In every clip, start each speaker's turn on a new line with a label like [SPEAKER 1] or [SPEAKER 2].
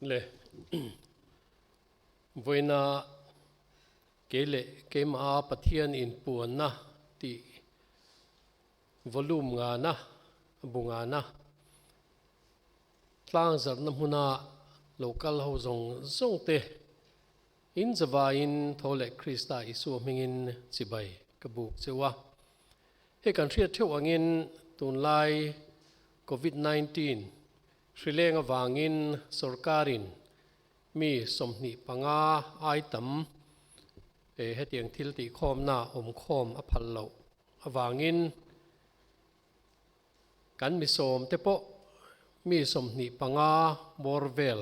[SPEAKER 1] le vawiina kei leh keimaha Pathian inpuanna tih volume ngana bu ngana tlang zarhna hmuna lo kal ho zawng zawngte. In zavaiin tho leh Krista Isua hmingin chibai ka buk cheu a. Hei kan hriat theuh angin tunlai Covid nineteen hrileng avangin sorkarin mi sawmhnih panga ai tam eh hetiang thil tihkhawmna awm khawm a phal loh avangin kan misawmte pawh mi sawmhnih panga bawr vel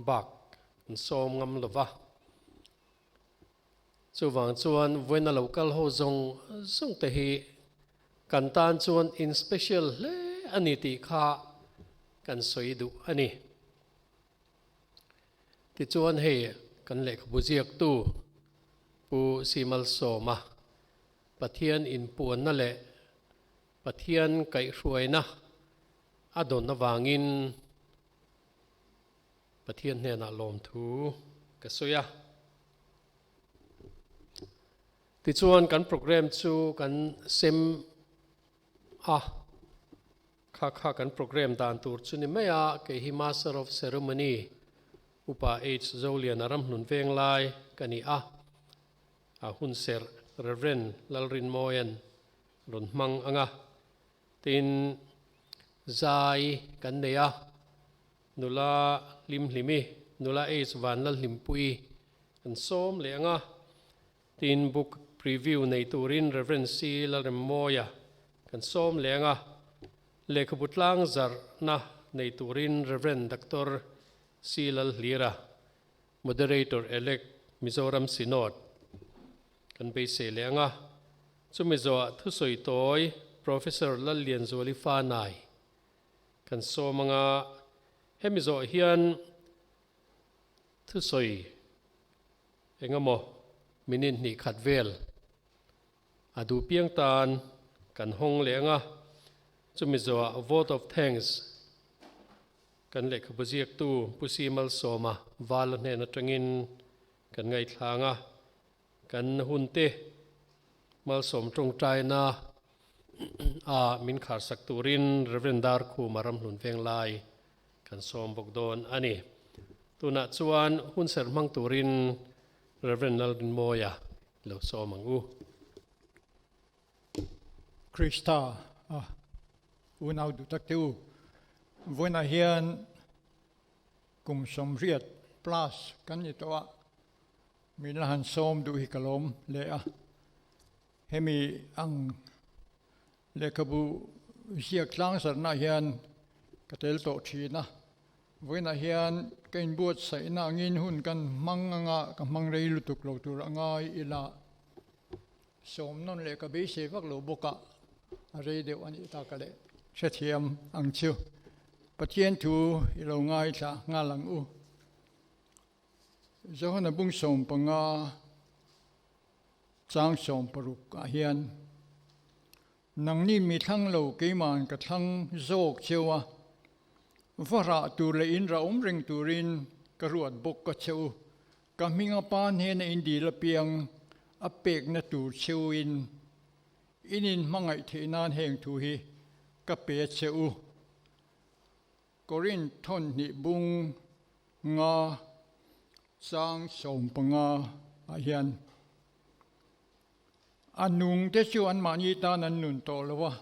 [SPEAKER 1] bak an sawm ngam lo va. Chuvang chuan vawiina lo kal ho zawng zawng te hi kan tan chuan in special hle a ni tih kha kan sawi duh a ni. Tichuan hei kan lehkhabu ziaktu Pu Simalsawma Pathian inpuanna leh Pathian kaihhruaina a dawn avangin, Pathian hnenah lawmthu ka sawi a. Tichuan kan programme chu kan sem a, kha kha kan programme dan tur chu ni mai a, kei hi Master of Ceremony Upa H. Zolian a ramhnun veng lai ka ni a, a hun serh Rev. Lalrinmawia'n rawn hmang anga Tin, zai kan nei a, nula Limhlim i nula H. Van Lalhlimpui kan sawm leh ang a. Tin, book preview nei turin Rev. C. Lalremmawia kan sawm leh ang a. Lehkhabu tlang zarhna nei turin Rev. Doctor C. Lalhlira Moderator Elect Mizoram Synod kan beisei leh anga, chumi zawhah thusawi tawi Professor Lallian Zualifanai kan sawm anga, hemi zawh hian thusawi engemaw minute hnih khat vel A duh piang tan kan hawng leh ang a, chumi zawha Vote of Thanks kan lehkhabu ziaktu Pu Sia Malsawma vala hnen atangin kan ngaithlang a, kan hunte Malsawm tawngtaina ah min kharsak turin Rev. Darkhum a ramhlun veng lai kan sawm bawk dawn a ni. Tunah chuan hun serhmang turin Rev. Nalrinmawia Lo sawm ang u. Krista a unau duh tak te u. Vawiinah hian kum sawmriat plus kan ni tawh a, min la han sawm duh hi ka lawm leh a. Hemi ang Lehkhabu ziak tlangzarhnaah hian ka tel tawh thin a, vawiinah hian ka inbuatsaihna angin hun kan hmang anga ka hmang rei lutuk lo tur a ngai ila, sawmnawn leh ka beisei vak lo bawka a rei deuh a nih ta ka leh hrethiam ang chu. Pathian thu i lo ngaithla nghal ang u. Johana bungsawm panga Changsawm paruk ah hian nang ni mi thlang lo keima'n ka thlang zawk cheu a, va rah tur leh in rah awm reng turin ka ruat bawk ka cheu. Ka hming a pa hnena in dil apiang a pekna tur cheu in in in hmangaih theih nan heng thu hi ka pe cheu Corinth thawhnih bung nga chang sawm panga ah hian a nung te chu anmahni tan an nun tawh lo a,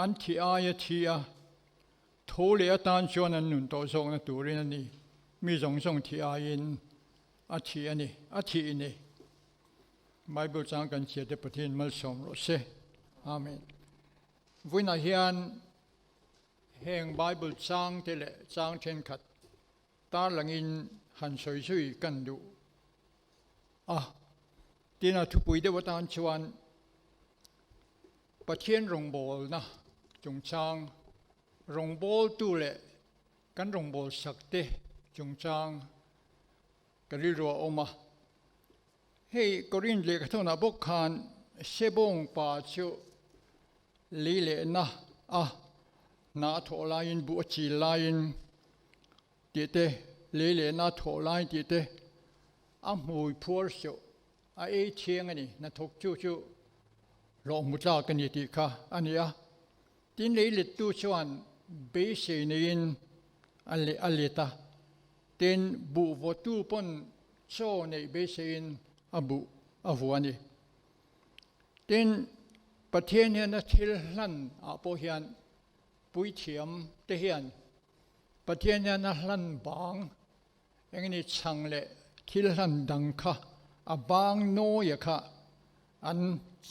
[SPEAKER 1] an thi ai a thi a, thu leh atan chuan an nun tawh zawkna turin a ni. Mi zawng zawng thi aiin a thi a ni, a thi i ni. Bible chang kan chiahte Pathian malsawm rawh se. Amen. Vawiinah hian Heng Bible changte leh chang thenkhat tarlangin han sawi zui kan duh a. Tinah thupui deuh atan chuan Pathian rawngbawlna chungchang rawngbawltu leh kan rawngbawlsakte chungchang ka rilruahawm a. Hei Korin lehkhathona bawk khan sebawng pa chu lei lehna a hna a thawh laiin buh a chil laiin tih te, lei lehna a thawh lai tih te a hmui phuar suh a ei thiang a ni, hnathawk chu chu hlawh hmu tlak a ni tih kha a ni a. Tin lei lettu chuan beisei neiin a let a, Tin, buhvawtu pawn chaw neih beiseiin a buh a vuah a ni. Tin, Pathian hian a thil hlan ah pawh hian puithiam te hian Pathian hian a hlan bang eng nge ni chhang leh thil hlan dang kha a bang nawi a kha an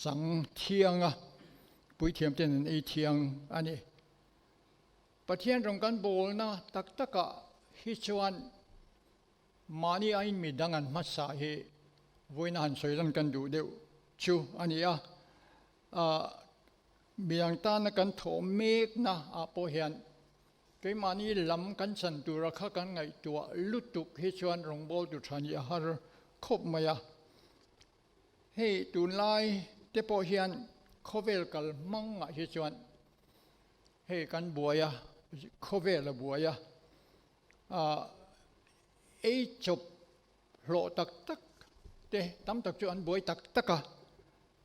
[SPEAKER 1] chang thiang a, puithiam ten an ei thiang a ni. Pathian rawn kan bawlna tak takah hi chuan mahni a inmi dang an hmasa hi vawiin a han sawi dawn kan duh deuh chu a ni a. Aah midang tana kan thawh mekna ah pawh hian keimahni lam kan chan tura kha kan ngaihtuah lutuk hi chuan rawngbawltu tha nih a har khawp mai a. Hei tunlai te pawh hian khawvel kal hmangah hi chuan hei kan buai a, khawvel a buai a, ah ei chawp hlawh tak tak te tam tak chu an buai tak tak a,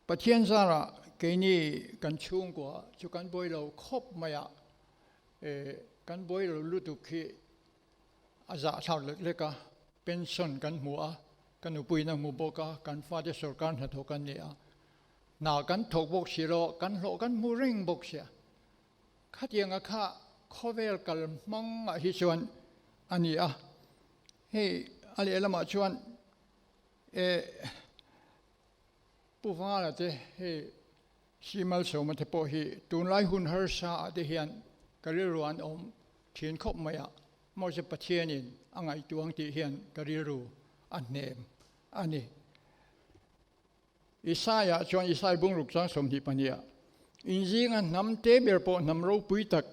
[SPEAKER 1] Pathian zara keini kan chhungkua chu kan buai lo khawp mai a, eh kan buai lo lutuk hi, A zah thlak lek lek a, pension kan hmu a, ka nupui na hmu bawk a, kan fate sorkar hnathawh kan ni a, hna kan thawk bawk si lo, kan hlawh kan hmu reng bawk si a, khatiang a kha khawvel kal hmang ah hi chuan a ni a, hei a leh lamah chuan eh Pu Vangalate hei Hri Malseumatha pawh hi tunlai hun harsa ah te hian ka rilru an awm thin khawp mai a, mahse Pathian in a ngaihtuang tih hian ka rilru a hnem a ni. Isaiah chuan Isai bungruk chuang sawmhnih pahnih ah, Inzing a hnam te ber pawh hnam ropui tak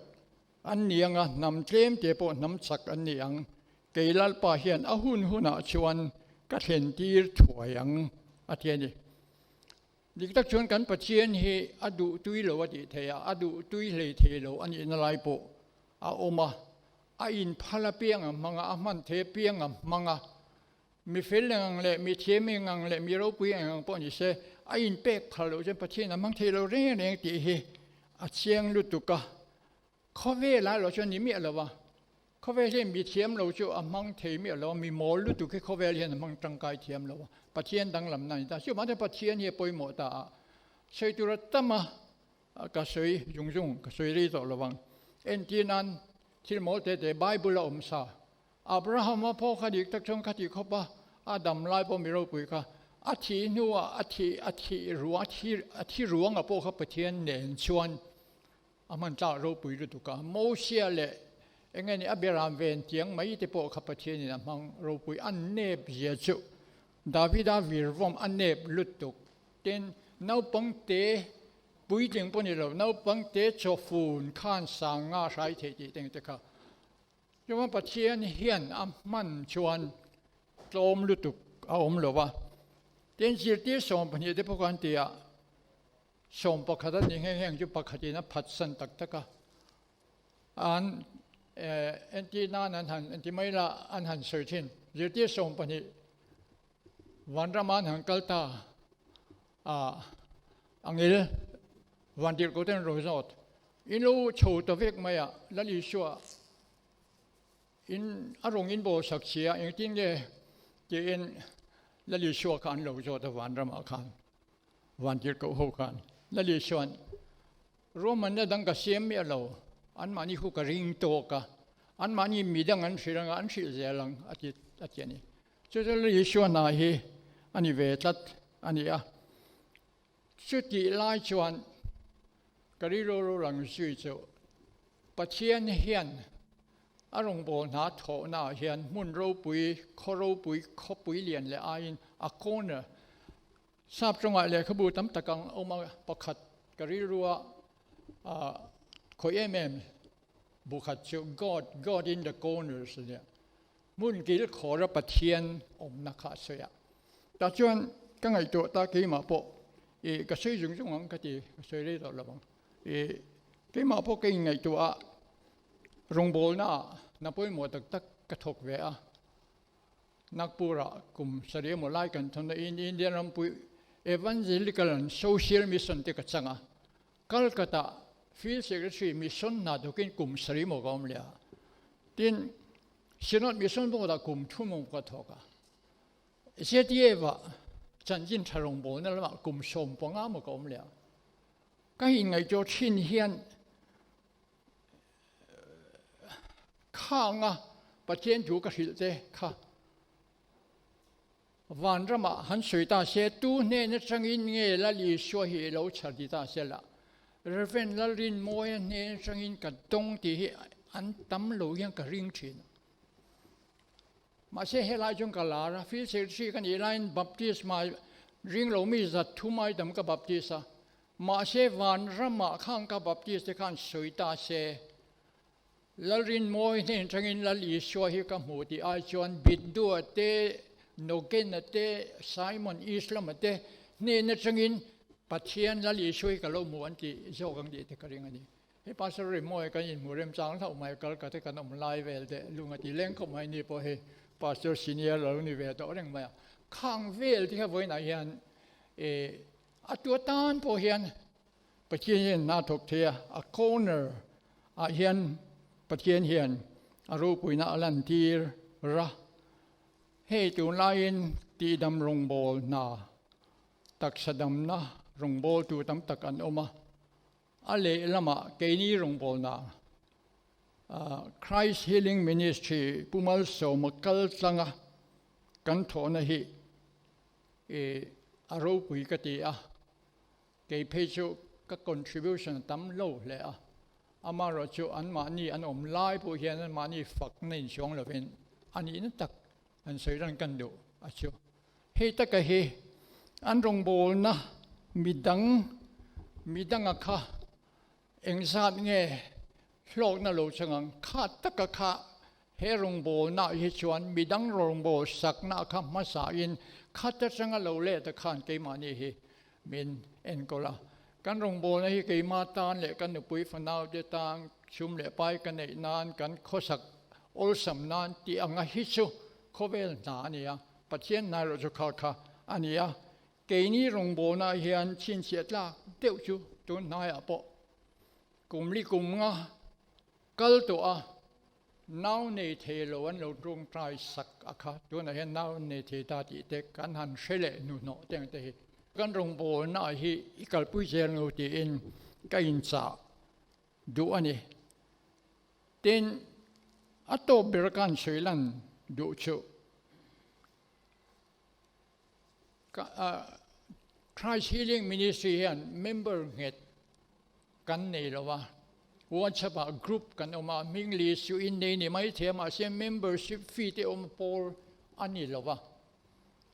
[SPEAKER 1] an ni ang a, hnam tlem te pawh hnam chak an ni ang, kei Lalpa hian a hun hun ah chuan ka thlentir thuai ang a ti a ni. Dik tak chuan kan Pathian hi a duh tui lo a tih theih a, a duh tui hleithei lo a nihna lai pawh a awm a, a inphal apiang ang hmang a, a hman thei apiang ang hmang a, mi fel eng ang leh mi thiam eng ang leh mi ropui eng ang pawh ni se, a inpek phal loh chuan Pathian a hmang thei lo reng reng tih hi a chiang lutuk a, khawvela erawh chuan ni miah lo va. Khawvel hi mi thiam lo chu a hmang thei miah lo a, mi mawl lutuk hi khawvel hian a hmang tangkai thiam lo a, Pathian danglamna a ni ta. Chu mahte Pathian hi a pawimawh ta a, sawi tur a tam a, ka sawi zung zung ka sawi rei tawh lovang. Entir nan thil mawl te te Bible a awm sa, Abraham a pawh kha dik tak chuan kha ti khawp a, a damlai pawh mi ropui kha a thih hnuah a thih a thih ruang a thi ruangah pawh kha Pathian nen chuan A hman tlak ropui lutuk a, Mawsia leh enge nih a biaram ve an tiang mai te pawh kha Pathianin a hmang ropui a nep zia chu Davida virvawm a nep lutuk. Tin, naupang te, puitling pawh ni lo, naupang te chawhfun khan sanga hrai thei tih teng te kha Jehovah Pathian hian a hman chuan tlawm lutuk a awm lo va. Tin, zirtir sawm pahnih te pawh kha an ti a. Sawm pakhat a ni nghe heng chu pakhatin a phatsan tak tak a, an entih nan an han enti mai la an han sawi thin. Zirtir sawm pahnih Vanrama an han kal ta a, a ngil Vandirhkohte an rawn zawt. In lo chho ta vek mai a, Lal Isua in a rawn inbosak chhi a, engtin nge tiin Lal Isua kha an lo zawt a Vanrama khan. Vantir koh ho khan la leh chuan Roman na dang ka siam miah lo, anmahni khu ka ring tawk a, anmahni mi dang an hrilh anga an hrilh zel ang a ti a ti a ni. Chuta la leh chuan hna hi a ni ve tlat a ni a. Chutih lai chuan ka rilru lo lang zui chu Pathian hian A rawngbawh hna thawhna ah hian hmun ropui, khaw ropui, khawpui lian leh aiin a corner sap tawngah lehkhabu tam tak ang a awm a, pakhat ka rilru a ah khawih em em bu khat chu God, God in the corners a nia, hmun kilkhawra Pathian awmna kha a sawi a. Tah chuan ka ngaihtuah ta keimah pawh i ka sawi zung zung ang ka ti, ka sawi rei zawh lo ang i keimah pawh ka inngaihtuah a, Rawngbawlna ah na pawimawh tak tak ka thawk ve a, Nagpur ah kum saria maw lai kan thawn a, Indian rampuii Evangelical an social mission te ka chang a, Calcutta ah field secretary mission hna tuk in kum saria maw ka awm leh a, tin synod mission bawk lah kum thu maw ka thawk a, ZEF ah Chanjin tha rawngbawlna lam ah kum sawm panga maw ka awm leh a, ka inngaihtuah thin hian, kha ang a Pathian thu ka hrilh te kha van rama han sawi ta se tu hne na changin nge lal Isua hi lo chhar ti ta se la Reverend lal rin mawi a hne na changin ka dawng ti hi an tam lo hian ka ring thin ma se he lai chung ka lar a fil sel chi ka ni lain baptisma ring lo mi zat thu mai dam ka baptisa Mahse Vanramah khan ka baptist te khan sawi ta se, Lalrinmawi hnen atangin Lal Isua hi ka hmu tih ai chuan Bindua te, Nogena te, Simon East lama te hnen atangin Pathian Lal Isua hi ka lo hmu an tih zawk ang tih te ka ring a ni. Hei Pastor Rinmawi kan inhmu remchang hlauh mai Calcutta kan awm lai vel te Lungati leng khawp mai ni pawh hei Pastor Senior lo ni ve tawh reng mai a, khang vel te hian vawiinah hian e, A tu atan pawh hian Pathian hian hna thawk thei a, a corner ah hian Pathian hian a ropuina a lantir ra. Hei tunlaiin tihdam rawngbâwl hna, taksa damna rawngbâwl tu tam tak an awm a. A lehlamah keini rawngbawlnaa Christ Healing Ministry Pu Malsawma kaltlanga kan thawhna hi a ropui ka ti a, kei phei chu ka contribution a tam lo hle a, amaherawhchu anmahni an awm lai pawh hian anmahni fakna insuang lovin a nihna tak An sawi ran kan duh a chu. Hei taka hi an rawngbawlna midang midanga kha engzat nge hlawkna lo chang ang. Kha taka kha he rawngbawlna hi chuan midang rawngbawlsakna kha hmasahin khat atanga lo let a khan keimahni hi Min enkawl la. Kan rawngbawlna hi keima tan leh ka nupui fanaute tan chum leh pai ka neih nan kan khawsak awlsam nan tih anga hi chu khawvel hna a ni a, Pathian hnai loh chu khal kha a ni a. Keini rawngbawlnah hian chhinchhiah tlak deuh chu tun hnaiah pawh kum li kum nga Kal tawh a, nau nei thei lo an lo tawngtai sak a kha, tunah hian nau nei thei ta tih te kan han hre leh hnuhnawh teng te hi kan rawn bawlna ah hi i kalpui zel ngo tiin ka inchah duh a ni. Tin, a tawp ber a kan sawilan duh chuh. Christ Healing Ministry hian member nghet kan nei lo a, WhatsApp ah group kan awm a, hming leh suh in nei ni mai thei a, mahse membership fee te awm pawl a ni lo a,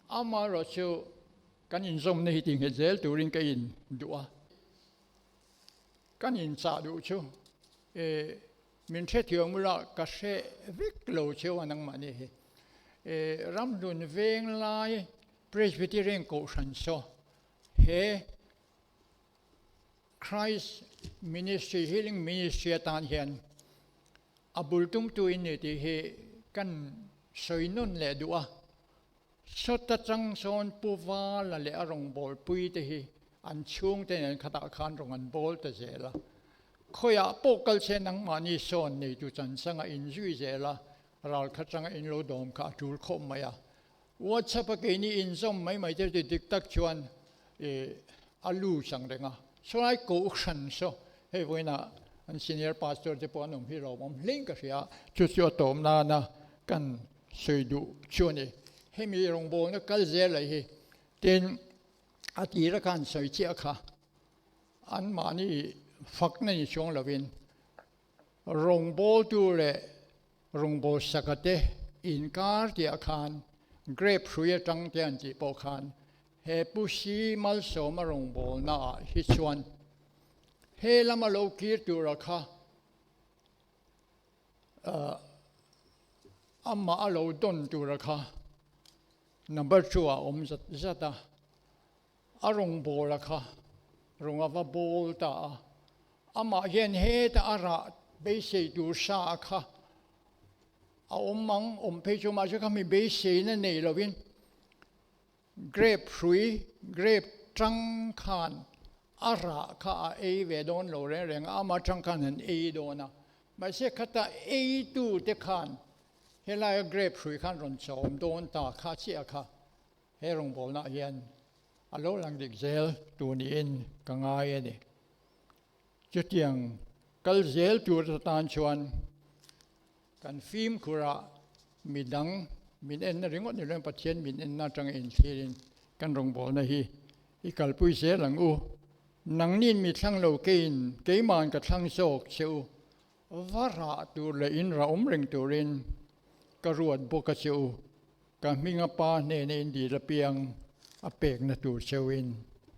[SPEAKER 1] amaherawh chu kan inzawmna hi tihnghet zel turin ka in duh a, kan inchah duh chu e. Min hre thiam ula ka hre vek lo che a nangmah ni hi ramhlun veng lai Presbyterian Kohhran saw he Christ Ministry Healing Ministry atan hian a bul tum tu in ni tih hi kan sawi nawn leh duh a. Saw tachang sawn pu vala leh a rawngbawlpui te hi an chhung te nen khatah khan rawn an bawl ta zel a. Khawiah pawh kal che nangmahni sawn neitu chansanga in zui zel a, ral khat tanga in lo dawm kha a tul khawp mai a. Whatsapp a keini in zawm mai mai te ti dik tak chuan i a lu chang reng a. Sawlai Kohhran saw hei vawiina an senior pastor te pawh an awm hi lo awm hlein ka hria, chu chu a tawm nana kan Sawi duh chu a ni. Hemi rawngbawlna kal zel lei hi. Tin, a tira khan sawi chiah kha, an mahni fakna ni chuang lovin, rawngbawltu leh rawngbawlh sakate inkar tihah khan grape hrui atang te an tih pawh khan he Pusi Malsawma rawngbawlnaah hi chuan he lama lo kir turah kha Ahh amah a lo dawn tura kha number two ah awm zat zat a, a rawn bawl a kha rawn a va bawl ta a, amah hian heta a rah beisei tur sa a kha a awm ang awm phei chu mahse kha mi beiseina nei lovin. Grape hrui, grape ṭang khan a rah kha a ei ve dawn lo reng reng a, ama ṭang khan han ei dawn a, mahse khata eitute khan helaia grape hrui khan rawn chawm dawn ta kha chiah kha he rawngbawlnah hian a lo lang dik zel tu niin ka ngai a ni. Chutiang kal zel tur atan chuan kan fimkhura mi dang min enna ringawt ni loin Pathian min enna atanga inthirin kan rawngbawlna hi i kalpui zel ang u. Nangnin mi thlang lo keiin keima'n ka thlang zawk che u. Va rah tur leh in rah awm reng turin ka ruat bawk a chu ka hming a pa hnena in dil apiang a pekna tur cheu in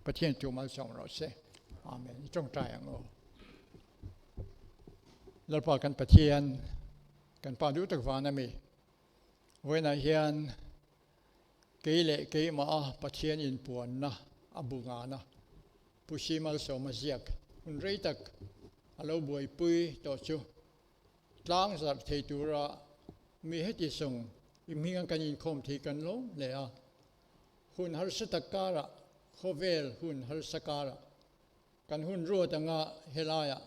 [SPEAKER 1] Pathian chu mal chauh rawh se Amen i tawngtai ang aw Lalpa kan Pathian kan pa duh tak vana mi vawiinah hian Kei leh keimaha Pathian inpuanna a bu ngan a. Pu Hri Malsawma ziak hun rei tak a lo buaipui tawh chu, tlang zarh thei tura mi heti sawng i hminga kan inkhawm thei kan lawm hle a. Hun harsa tak karah, khawvel hun harsa karah, Kan hun ruat anga helaiah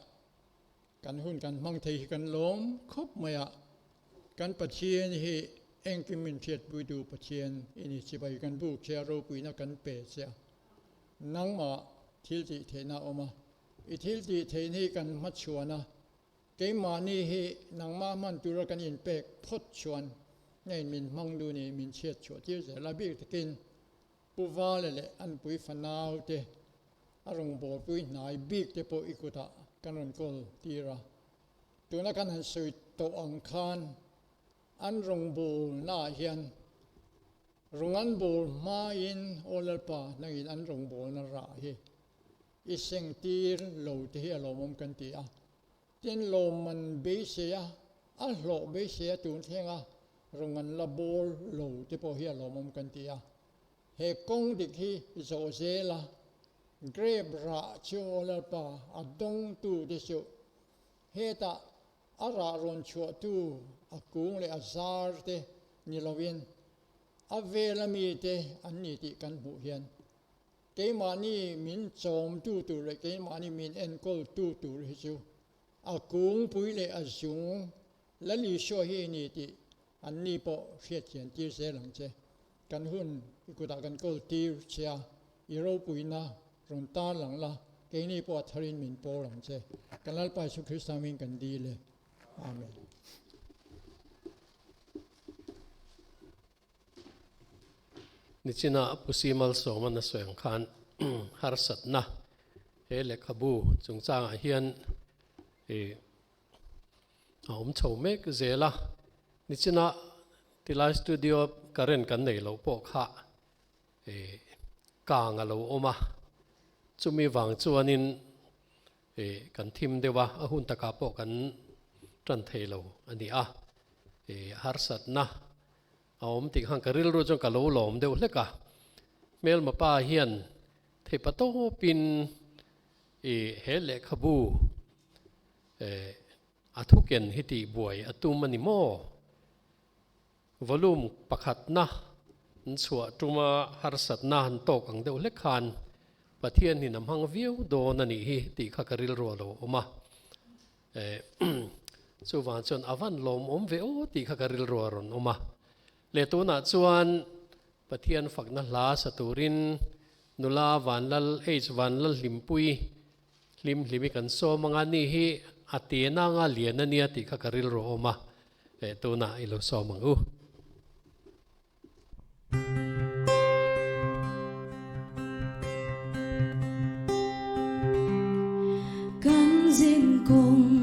[SPEAKER 1] kan hun kan hmang thei hi kan lawm khawp mai a, kan Pathian hi engkim min hriatpuitu Pathian i ni chibai kan buk che a, ropuina kan pe che a, nangmah thil tih theihna a awm a, i thil tih theihna hi kan hmachhuan a, keimahni hi nangmah hman tura kan in pek phawt chuan ngein min hmang lu nih min chhiat chhuah tirzel a bik takin Pu Vale leh an pui fanau te, a rawngbawlpui hnai bik te pawh i kutah kan rawn kawl tir a. Tuna kan han sawi tawh ang khan an rawngbawlnaah hian rawng an bawl hmain aw Lalpa hnakin an rawngbawlna rah hi i seng tir lo te hi a lawmawm kan ti a, Tin lo man beiseia, a hlawh beiseia tun thlenga rawngan la bawl lo te pawh hi a lawmawm kan ti a. He kawng dik hi zawh zel a, grape rah cheu lalpa a dawng tu te chu hetah a rah rawn chhuah tu a kung leh a zar te ni loin a vel a mi te an ni tih kan hmuh hian Keimahni min chawmtu tur leh keimahni min enkawltu tur hi chu a kungpui leh a zung lal Isua hi i ni tih an ni pawh hriathian tir zel ang che. Kan hun i kutah kan kawl tir che a, i ropuina rawn tar lang la, keini pawh a thar in min pawr ang che. Kan Lalpa Isu Krista hming kan dil e. Amen. Nichina Pusi Malsawma Nasaweng khan harsatna he lehkhabu chungchangah hian a awm chho mek zel a. Nichina tilai studio current kan nei loh pawh kha kang a lo awm a, chumi vang chuanin Ih kan thim deuh a, a hun takah pawh kan tan thei lo a ni a, ih harsatna a awm tih khan ka rilru chuan ka lo lawm deuh hlek a, hmelma pa hian theipa tawpin ih he lehkhabu eh a thuken hi tih buai a tum a ni maw? Volume pakhat na in chhuah tum a harsat na an tawk ang deuh hle khan Pathian in a hmang viau dawn a nih hi tih kha ka rilruah lo awm a eh chuvang chuan a van lawm awm ve aw tih kha ka rilruah rawn awm a leh tunah chuan Pathian fakna hla sa turin nula Vanlal H Vanlalhlimpui Hlim hlim i kan sawm anga ni hi a ti nanga lian a nia tih kha ka rilru awm a, leh tunah i lo sawm ang u. Kan zing kawng.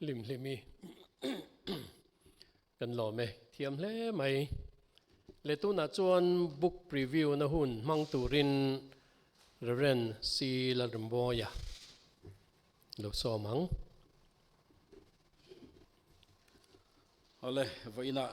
[SPEAKER 1] hlim hlim i kan lawm e thiam hle mai le tunah chuan book preview na hun hmang turin Reverend C Lalrimbawia lo sawm ang Hawle vawiinah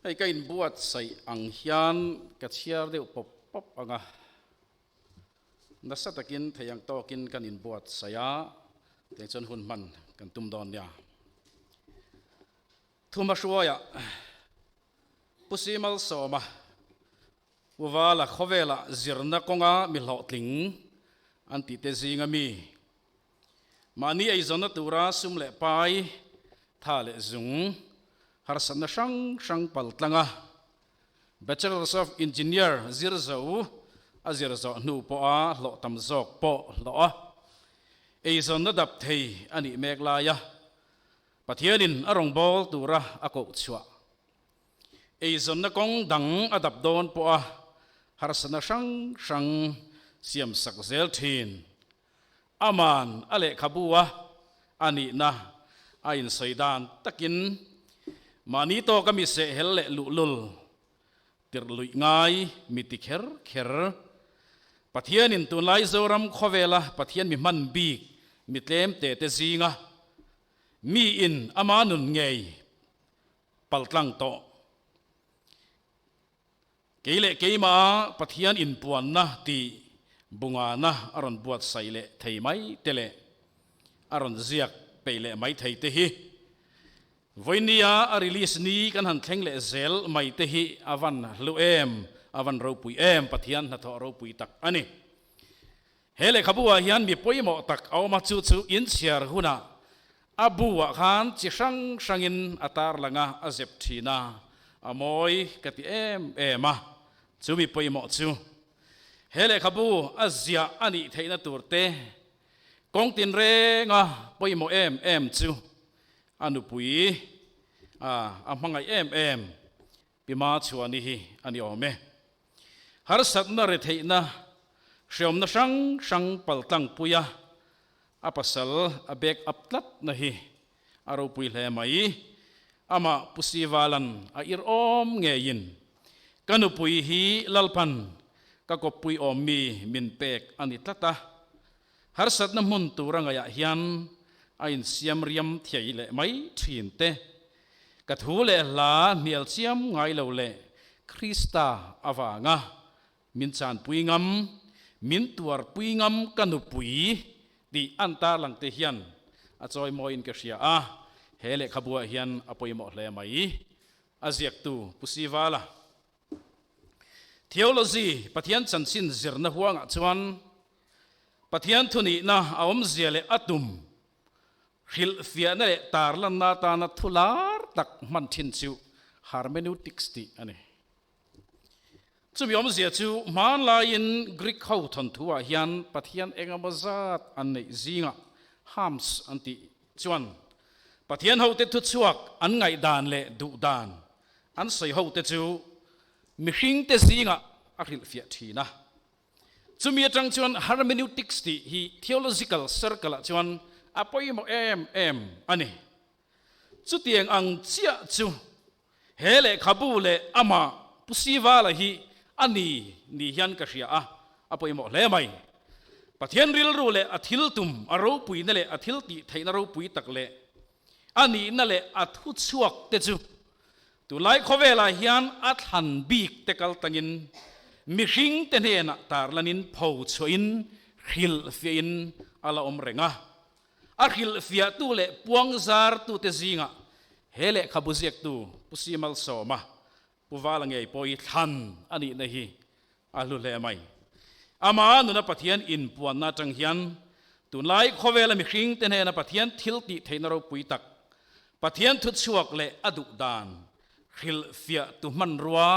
[SPEAKER 1] Hei ka inbuatsaih ang hian ka chhiar deuh pawp pawp ang a, nasa takin thei ang tawkin kan inbuatsaih a, kei chuan hun hman kan tum dawn nia. Thumahruaia Pu Simal Sawma Pu Vala khawvela zirna kawnga mi hlawhtling an tihte zinga mi Mahni eizawnna tura sum leh pai, tha leh zung harsatna hrang hrang pal tlang a Bachelors of Engineer zir zo a zir zawh hnu pawha hlawh tam zawk pawh hlawh a eizawnna dap thei a nih mek lai a Pathianin a rawngbâwl tura a koh chhuah eizawnna kawng dang a dap dawn pawha harsatna hrang hrang siamsak zel thin Aman a lehkhabu a a nihna a insawi dan takin mahni tawk a mi sehhel leh luhlul tirh luih ngai mi ti kher kher, Pathianin tunlai Zoram khawvela Pathian mi hman bik mi tlem te te zinga mi in ama nun ngei paltlang tawh Kei leh keimaha Pathian inpuanna tih bungana a rawn buatsaih leh thei mai te leh a rawn ziak peih leh mai thei te hi Vawinia a release ni kan han thleng leh zel mai te hi a van hlu em, a van ropui em Pathian hnathawh ropui tak a ni. He lehkhabuah hian mi pawimawh tak a awm a, chu chu in chhiar huna a buah khan chi hrang hrangin a tar lang a, a zep thin a, a mawi ka ti em em a, chu mi pawimawh chu. He lehkhabu a ziah a nih theihna tur te kawng tinrenga pawimawh em em chu a nupui a a hmangaih em em Pima chhuahni hi a ni awm e. Harsatna retheihna hriamna hrang hrang pal tlangpuia a pasal a back up tlatna hi a ropui hle mai. Amah Pu Sivalan a ir awm ngeiin ka nupui hi Lalpan ka kawppui awmmi min pek a ni tlat a. Harsatna hmun tura ngaihah hian a insiam riam thiai leh mai thin te Ka thu leh hla hnialchiam ngai lo leh Krista avanga min chanpui ngam, min tuarpui ngam ka nupui ti an tarlang te hian a chawi mawiin ka hria a, he lehkhabuah hian a pawimawh hle mai. A ziaktu Pu Sivala, Theology Pathian chanchin zirna huangah chuan Pathian thunihna a awmzia leh a tum hrilhfiahna leh tarlanna atana thu lar tak hman thin chu hermeneutics tih a ni. Chumi awmzia chu, hmanlaiin Greek ho thawnthuah hian Pathian engemaw zat an neih zingah hams an tih chuan, Pathian hote thuchhuak an ngaihdan leh duhdan an sawi hote chu mihringte zingah a hrilhfiah thin a. Chumi atang chuan Hermeneutics tih hi theological circle ah chuan a pawimawh em em a ni. Chutiang ang chiah chu he lehkhabu leh amah Pu Sivala hi a ni nih hian ka hria a, a pawimawh hle mai. Pathian rilru leh a thil tum, a ropuina leh a thil tihtheihna ropui tak leh a nihna leh a thuchhuak te chu Tulai khawvelah hian a thlan bik te kal tangin mihring te hnenah tarlanin pho chhuahin hrilhfiahin a la awm reng a. A hrilhfiahtu leh puang zartute zingah he lehkhabu ziaktu Pu Simal Sawma, Pu Vala Ngei pawhi thlan a nihna hi A hlu hle mai. Amah nuna Pathian inpuanna atang hian tunlai khawvela mihringte hnena Pathian thil tih theihna ropui tak, Pathian thuchhuak leh a duhdan hrilhfiahtu hmanrua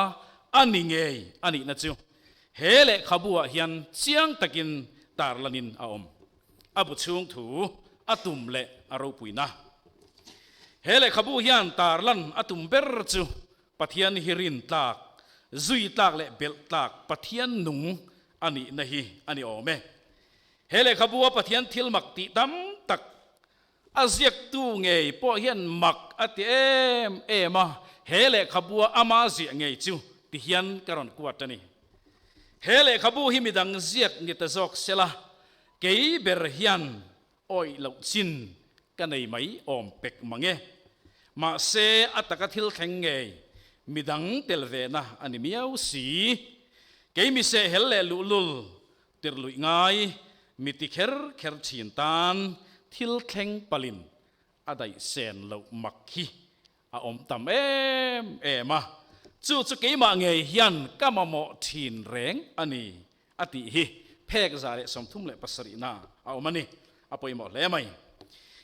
[SPEAKER 1] a ni ngei a nihna chu he lehkhabuah hian chiang takin tarlanin a awm. A bu chhungthu a tum leh a ropuina. He lehkhabu hian tarlan a tum ber chu Pathian hi rintlak, zuitlak leh belhtlak Pathian nung a nihna hi a ni awm e. He lehkhabua Pathian thil mak tih tam tak a ziaktu ngei pawh hian mak a ti em em a, he lehkhabua ama ziah ngei chu ti hian ka rawn kuat a ni. He lehkhabu hi midang ziak ni ta zawk sela, kei ber hian Awih loh chin ka nei mai awm pek mange. Mahse a taka thil thleng ngei midang tel vena a ni miau si. Keimi sehel leh luhlul tir luih ngai mi ti kher kher thin tan thil thleng palin a daihsen loh mak hi a awm tam em em a, chu chu keimah ngei hian ka mamawh thin reng a ni a tih hi phekza leh sawmthum leh pasarihna a awm a ni a pawimawh hle mai.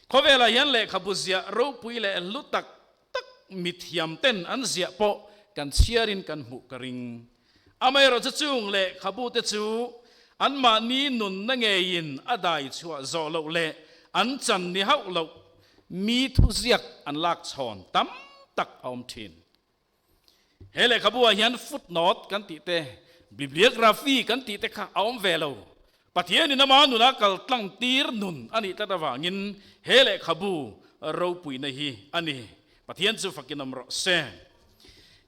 [SPEAKER 1] Khawvelah hian lehkhabu ziah ropui leh hlu tak tak mithiam ten an ziah pawh kan chhiarin kan hmuh ka ring Amaherawh chu chung leh khabute chu anmahni nunna ngeiin a dai chhuah zawh loh leh an chan ni hauh loh mi thuziak an lak chhawn tam tak a awm thin. He lehkhabuah hian footnote kan tihte, bibliography kan tihte kha a awm ve lo. Pathianin Amah nunah kal tlangtir nun a nih tlat avangin he lehkhabu ropuina hi a ni. Pathian chu fakinawm rawh se.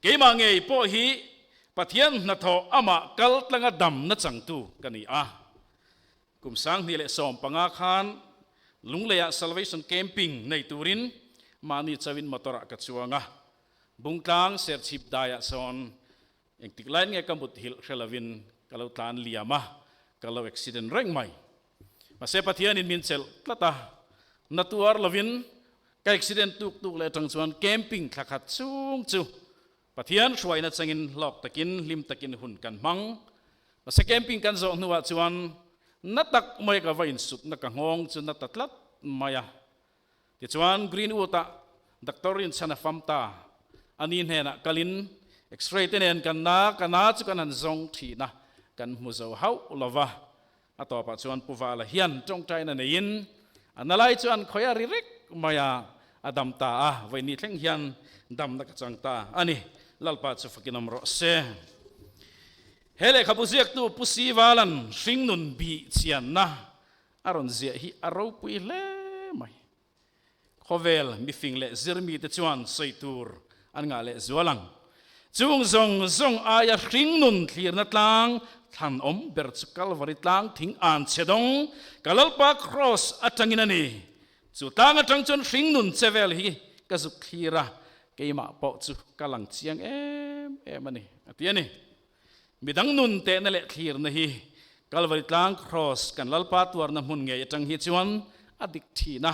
[SPEAKER 1] Keimah ngei pawh hi Pathian hnathawh Amah kaltlanga dam na changtu ka ni a. Kum sanghnih leh sawm panga khan Lungleiah Salvation Camping nei turin mahni chauhin motor-ah ka chuang a. Bungtlang Serchhip daiah sawn Engtik lai nge ka muthilh hre lovin ka lo tlan liam a, ka lo accident reng mai. Mahse Pathianin min chelh tlat a, na tuar lovin ka accident tuk tuk leh atang chuan camping thla khat chhung chu Pathian hruain achangin hlawk takin hlim takin hun kan hmang. Mahse camping kan zawh hnuah chuan na tak mai ka va insupna ka nghawng chu na ta tlat mai a. Tichuan, Greenwood-a Doctor Rinchhana Famta a ni hnenah kalin X-ray te nen kan na ka na chu kan han zawng thina kan hmu zo hauh lo va. A tawpah chuan Pu Vala hian tawngtaina neiin a na lai chuan khawi a ri rek mai a, a dam ta a, vawi ni thleng hian damna ka chang ta a ni, Lalpa chu fakin awm rawh se. He lehkhabu ziaktu Pu Sivalan hringnun bih chianna A rawn ziah hi a ropui hle mai. Khawvel mifing leh zirmite chuan sawi tur an ngah leh zual ang. Chung zawng zawng aia hringnun thlirna tlang thlan awm ber chu Calvary tlang thing an chhedawng ka Lalpa Kraws atangin a ni. Chu tlang atang chuan hringnun che vel hi ka zuk thlir a, keimah pawh chu ka lang chiang em em a ni, a ti a ni. Midang nun tehna leh thlirna hi Calvary tlang Kraws kan Lalpa tuarna hmun ngei atang hi chuan a dik thin a.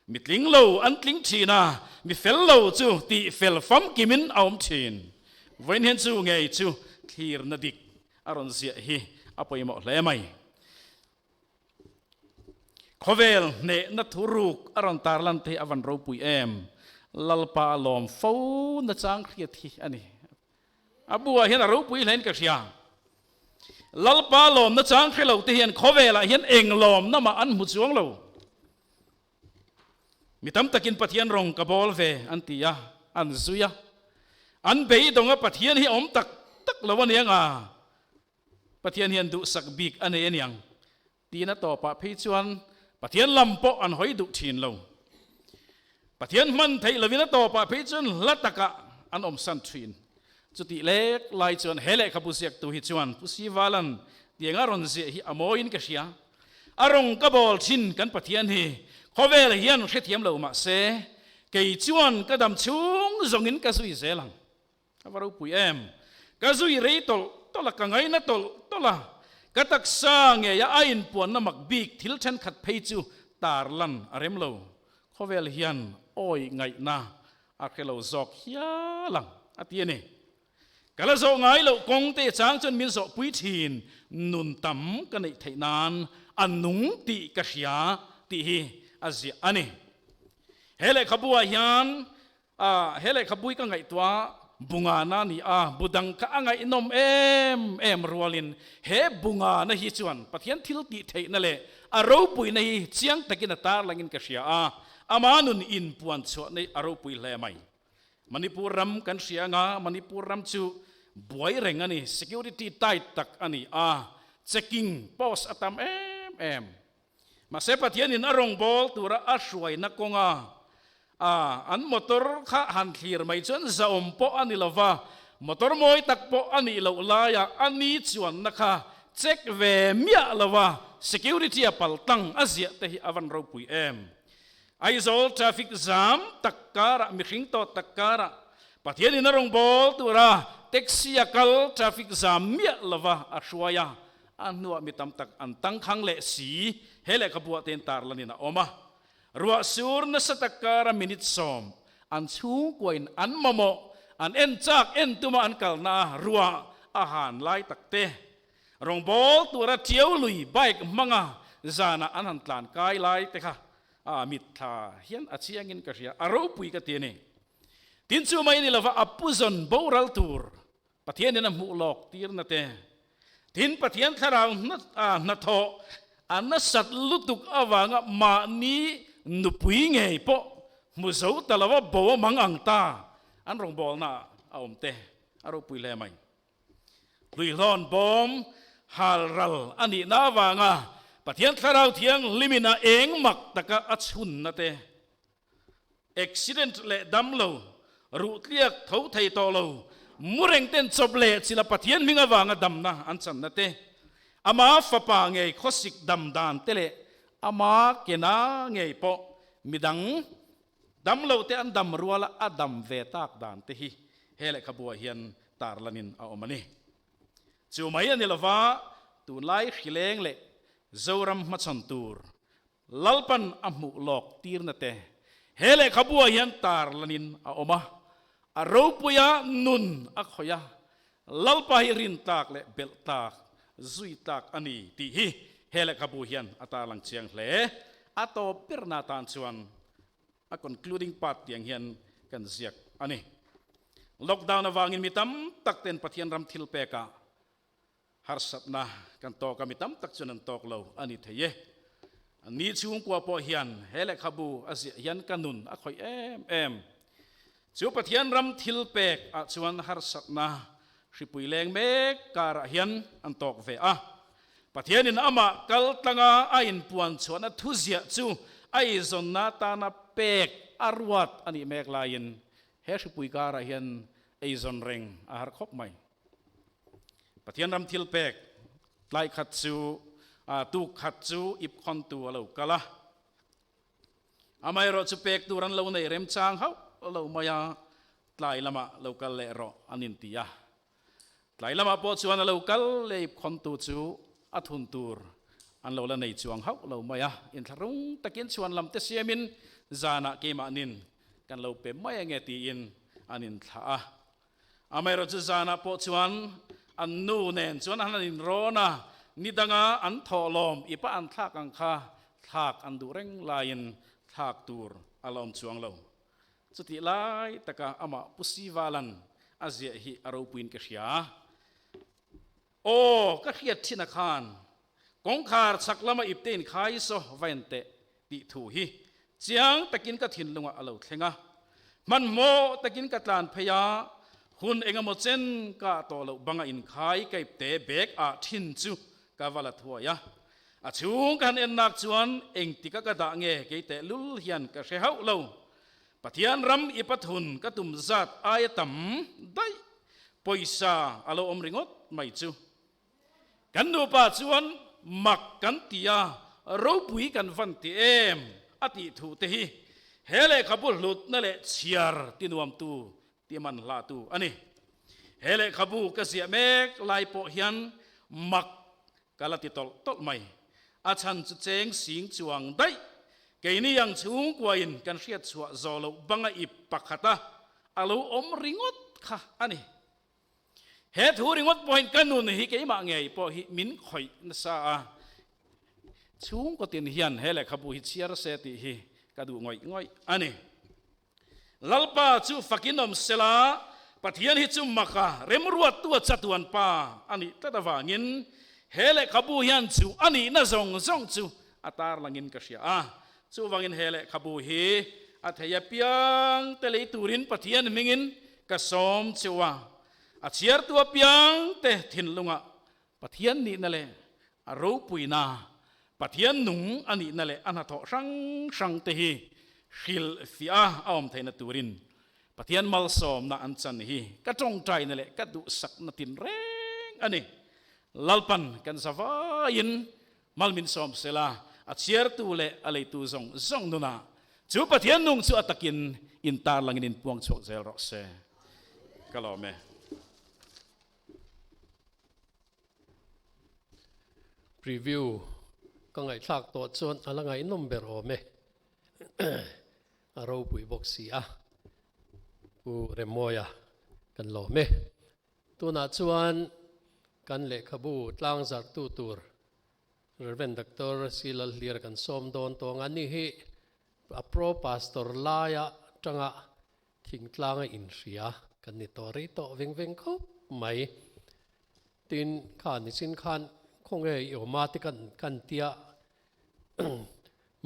[SPEAKER 1] Mi tling lo an tling thin a, mi fel lo chu tih fel famkim in a awm thin. Vawiin hian chu ngei chu thlirna dik a rawn ziah hi a pawimawh hle mai. Khawvel hnehna thu ruk a rawn tar lan te hi a van ropui em. Lalpa a lawm fo na chang hriat hi a ni. A bulah hian a ropui hlain ka hria. Lalpa lawmna chang hre lo te hian khawvelah hian eng lawmna mah an hmu chuang lo. Mi tam takin Pathian rawng ka bawl ve an ti a, an zui a. An beidawngah Pathian hi a awm tak tak lo a niang a, Pathian hian duhsak bik a nei a niang, Tina tawpah phei chuan Pathian lam pawh an hawi duh thin lo. Pathian hman theih lovin a tawpah phei chuan hla takah an awm san thin. Chutih lek lai chuan he lehkhabu ziaktu hi chuan Pu Sivalan tianga rawn ziah hi a mawiin ka hria. A rawn ka bawl thin kan Pathian hi khawvel hian hrethiam lo mahse, kei chuan ka damchhung zawngin ka zui zel ang. A va ropui em? Ka zui rei tawlh tawlh a, ka ngaina tawlh tawlh a, ka taksa ngeia a inpuanna mak bik thil thenkhat phei chu tar lan a rem lo. Khawvel hian awi ngaihna a hre lo zawk hial ang a ti a ni. Ka la zawh ngai loh kawng te chang chuan min zawhpui thin nun tam ka neih theih nan a nung tih ka hria tih hi a ziah a ni. He lehkhabu ah hian A, he lehkhabui ka ngaihtua Bungana a ni a, bu dang kha a ngaihnawm em em rualin he Bungana hi chuan Pathian thiltihtheihna leh a ropuina hi chiang takin a tarlangin ka hria a, amah nun in puan chhuah nei a ropui hle mai. Manipur ram kan hria anga Manipur ram chu buaireng a ni, security tight tak a ni a, checking post a tam em em. Mahse, Pathianin a rawngbâwl tura a hruaina kawnga a an motor kha han thlir mai chuan zahawm pawh a ni lo va, motor mawi tak pawh a nih loh laia ani chuanna kha check ve miah lova security a pal tlang a ziahte hi a van ropui em? Aizawl traffic jam tak kârah, mihring tawt tak kârah Pathianin a rawngbâwl tura taxi a kal traffic jam miah lova a hruai a, A hnuah mi tam tak an tangkhang leh si. He lehkha buah tein tar lan in a awm a, ruah sur nasa tak kara minute sawm an chhungkua in an mamawh, an en chak en tuma an kalna a ruah a han lai tak te. Rawngbawl tura ṭio lui bike hmanga zana an han tlan kai lai te kha a mitthla hian a chiang in ka hria, a ropui ka ti a ni. Tin chu mai ni lova a pu zawn boral tur Pathianin a hmuh lawk tirna te. Tin, Pathian thlarau hnathawh a nasat lutuk avanga mahni nupui ngei pawh hmu zo ta lo a, bo a mang ang ta, an rawngbawlnaah a awm te a ropui hle mai. Hluihlawn bawm hal ral a nihna avanga Pathian thlarau thianghlimin a eng mak taka a chhunna te Accident leh dam lo, ruhtliak tho thei tawh lo, murengten chawp leh chila Pathian hming avanga damna an channa te, ama fapa ngei khawsik dam dan te leh ama kena ngei pawh midang dam lo te an dam ruala a dam ve tak dan te hi he lehkhabuah hian tarlanin a awm a ni. Chu mai a ni lova tunlai hrileng leh Zoram hmachhawn tur Lalpan a hmuh lawk tirna te he lehkhabuah hian tar lanin a awm a, a ropuia nun a khawih a, Lalpa hi rin tak leh belh tak, zui tak a ni tih hi he lehkhabu hian a tarlang chiang hle. A tawp berna tan chuan a concluding part tiang hian kan ziak a ni. Lockdown avangin mi tam tak ten Pathian ram thil pekah Harsatna kan tawk a, mi tam tak chuan an tawk lo a ni thei e. An ni chhungkua pawh hian he lehkhabu a ziah hian ka nun a khawih em em. Chu Pathian ram thil pek ah chuan harsatna hripui leng mek karah hian an tawk ve a. Pathianin amah kaltlanga a inpuanchhuahna thuziah chu a izawnna atana pek a ruat a nih mek laiin he hripui karah hian eizawn reng a har khawp mai. Pathian ram thil pek tlai khat chu ah tu khat chu ip khawn tu a lo kal a, amaherawh chu pek tur an lo neih rem chang hauh lo mai a, tlai lamah lo kal leh rawh an inti a, tlai lamah pawh chuan a lo kal leh ip khawn tu chu a thun tur an lo la nei chuang hauh lo mai a, inthlahrung takin chhuan lam te siamin zanah keimahnin kan lo pe mai ange tiin an inthlah a, Amaherawhchu chu zanah pawh chuan an nu nen chuan an han inrawn a, ni danga an thawh lawm i pah an thlak ang kha thlak an duh reng laiin thlak tur a la awm chuang lo. Chutih lai taka amah Pu Sivalan a ziah hi a ropuiin ka hria. Aw, ka hriat chhinah khan kawngkhar chhak lama ipte in khai saw va en teh tih thu hi chiang takin ka thinlungah a lo thleng a. Hmanhmawh takin ka tlan phei a, hun engemaw chen kah tawh loh banga inkhai ka ipte bag ah thin chu ka va la thuai a. A chhung ka han ennak chuan engtika ka dah nge kei tehlul hian ka hre hauh lo. Pathian ram i pathun ka tum zat aia tam daih pawisa a lo awm ringawt mai chu. Kan nupa chuan mak kan ti a, ropui kan van ti em a tih thu te hi he lehkhabu hlutna leh chhiar ti nuam tu tih man hlatu a ni. He lehkhabu ka ziah mek lai pawh hian mak ka la ti tawlh tawlh mai. A chhan chu cheng sing chuang daih. Keini ang chhungkuain kan hriat chhuah zawh loh banga ip pakhata a lo awm ringawt kha a ni. He thu ringawt pawhin ka nun hi keimah ngei pawh hi min khawih nasa a. Chhungkaw tin hian he lehkhabu hi chhiar se tih hi ka duh ngawih ngawih a ni. Lalpa chu fakin awm sela, Pathian hi chu maka remruattua chatuan pa a nih tlat avangin he lehkhabu hian chu a nihna zawng zawng chu a tarlangin ka hria a. Chuvangin he lehkhabu hi a thei apiang te lei turin Pathian hmingin ka sawm cheu a, a chhiartu apiang te thinlungah Pathian nihna leh a ropuina, Pathian nung a nihna leh a hnathawh hrang hrang te hi hrilhfiah a a awm theihna turin Pathian malsawmna an chan hi ka tawngtaina leh ka duhsakna tinreng a ni. Lalpan kan zavaiin hmalmin sawm sela a chhiartu leh a leitu zawng zawng nunah chu Pathian nung chu a takin intarlangin in puangchhuak zel rawh se ka lawm e. Preview, Ka ngaihthlak tawh chuan a la ngaihnawm ber awm e. A ropui bawk si a, Pu Remmawia kan lawm e. Tunah chuan kan lehkhabu tlangzarhtu tur Rev. Doctor Sri Lalhlira kan sawm dawn tawng a. Ni hi a Pro Pastor laia tanga Thingtlanga inhria kan ni tawh rih tawh veng veng khawp mai. Tin kha nichin khan khawnge i awm a te kan kan tia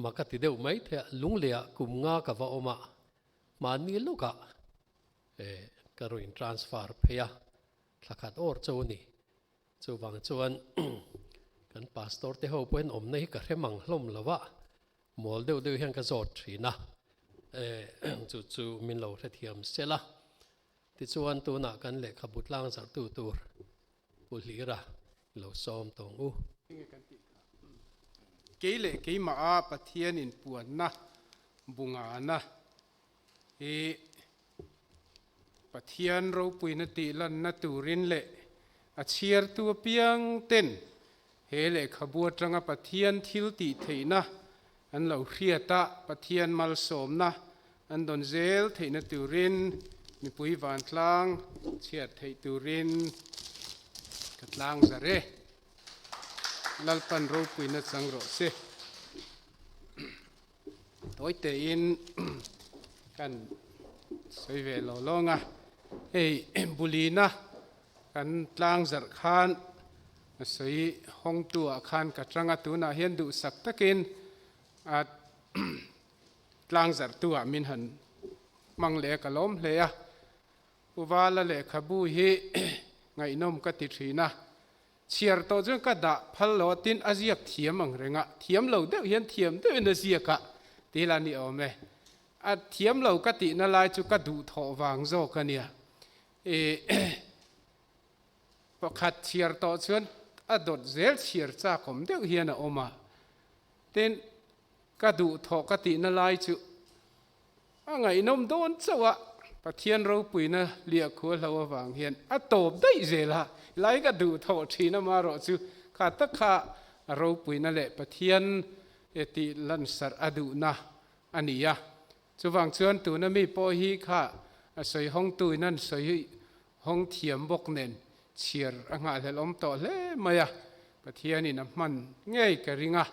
[SPEAKER 1] mah ka ti deuh mai the a lunglea kum nga ka va awm a mahni lawka ka rawn in transfer phei a thla khat awr chau a ni. Chuvang chuan kan pastor te ho pawhin awmna hi ka hrem ang hlawm lo a Mual deuh deuh hian ka zawt thin a, eh, chu chu min lo hrethiam sel a. Tichuan tunah kan lehkhabu tlangzarhtu tur Pu Hlira i lo sawm tawng u. Enge kan tih kha, kei leh keimah a Pathian inpuanna bunga na hi Pathian ropuina tih lanna turin leh a chhiartu apiang ten he lehkhabu atanga Pathian thil tih theihna an lo hriat a, Pathian malsawmna an dawn zel theihna turin mipui vantlang chhiat theih turin ka tlang zarh e. Lalpan ropuina chang rawh che. Tawi tein kan sawi ve lo lawng a, hei bulina kan tlang zarh khan a sawi hawngtu ah khan ka tanga tunah hian duhsak takin a tlang zarh tu ah min han hmang leh a ka lawm hle a, Pu Vala lehkhabu hi ngaihnawm ka ti thin a. Chhiar tawh chuan ka dah phal lo a, tin a ziak thiam ang reng a, thiam lo deuh hian thiam deuh in a ziak a ti ila ni awm e. A thiam lo ka tih na lai chu ka duh thawh vang zawk a nia. I pakhat chhiar tawh chuan a dawt zel chhiar chakawm deuh hian a awm a, tin ka duh thawh ka tih na lai chu A ngaihnawm dawn chauh a. Pathian ropuina liah khualhlo avang hian a tawp daih zel a, helai ka duh thawh thin a mah rawh chu kha tak kha a ropuina leh Pathian e tih lansarh a duhna a ni a. Chuvang chuan tuna mi pawh hi kha a sawi hawng tu in an sawi hawng thiam bawk nen chhiar a nghahhlelhawm tawh hle mai a, Pathian in a hman ngei ka ring a,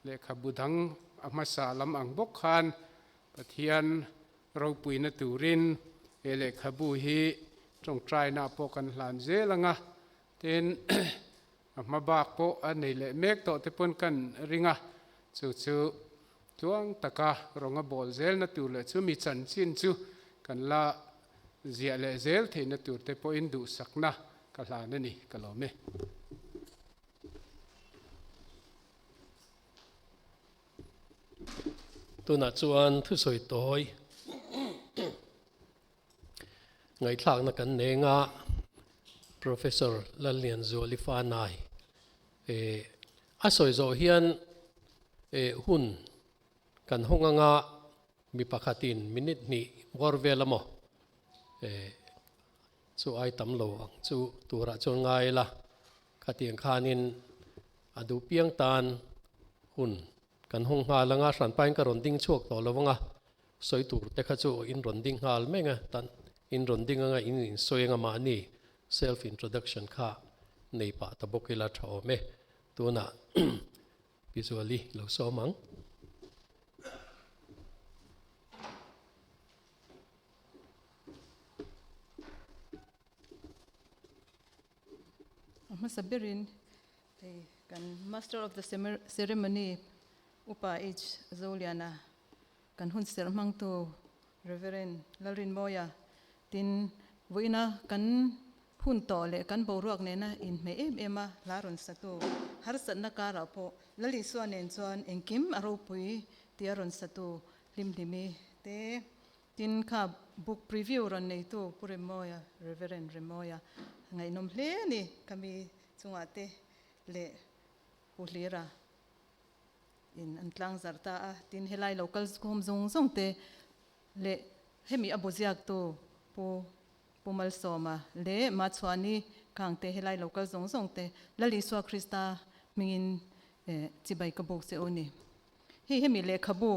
[SPEAKER 1] Lehkhabu dang a hmasa lam ang bawk khan Pathian ropuina turin he lehkhabu hi tawngtainaah pawh kan hlan zel ang a, tin a hma bak pawh a nei leh mek tawh te pawn kan ring a, chu chu tluang taka rawn a bawl zelna tur leh chu mi chanchin chu kan la ziah leh zel theihna tur te pawhin duhsakna ka hlan a ni ka lawm e. Tunah chuan thusawi tawi ngaihthlakna kan neng a, Professor Lallianzuali Fanai a sawi zawh hian hun kan hawng anga mi pakhatin minute hnih bawr vel a maw, Chu ai tam lo ang chu turah chuan ngai ila, khatiang khanin a duh piang tan hun kan hawng nghal anga hranpain ka rawn ding chhuak tawh lovang a, sawi tur te kha chu in rawn ding nghal meng a, tan in rawn ding anga in in sawi anga mahni self introduction kha nei pah ta bawk ila tha awm e, tunah Pizuali lo sawm ang. A hmasa berin hei kan Master of the Ceremony Upa H Zoliana. Kan hun serh hmangtu Reverend Lalrinmawia tin vuina kan hun tawh leh kan boruak nena inhmeh em em a hla rawn satu harsatna karah pawh Lalisua nen chuan engkim a ropui tia rawn satu hlimhlimi te tin kha book preview rawn neitu Pu Remawia Reverend Remawia ngaihnawm hle a ni kami chungah te leh Pu Hlira in an tlang zarh ta a, tin helai lo kal sukhuhawm zawng zawng te leh hemi a bu ziak tu Pu Pu Malsawma leh Ma Chhuani kang te helai lo kal zawng zawng te Lal Isua Krista hmingin chibai ka buk che u ni. Hei hemi lehkhabu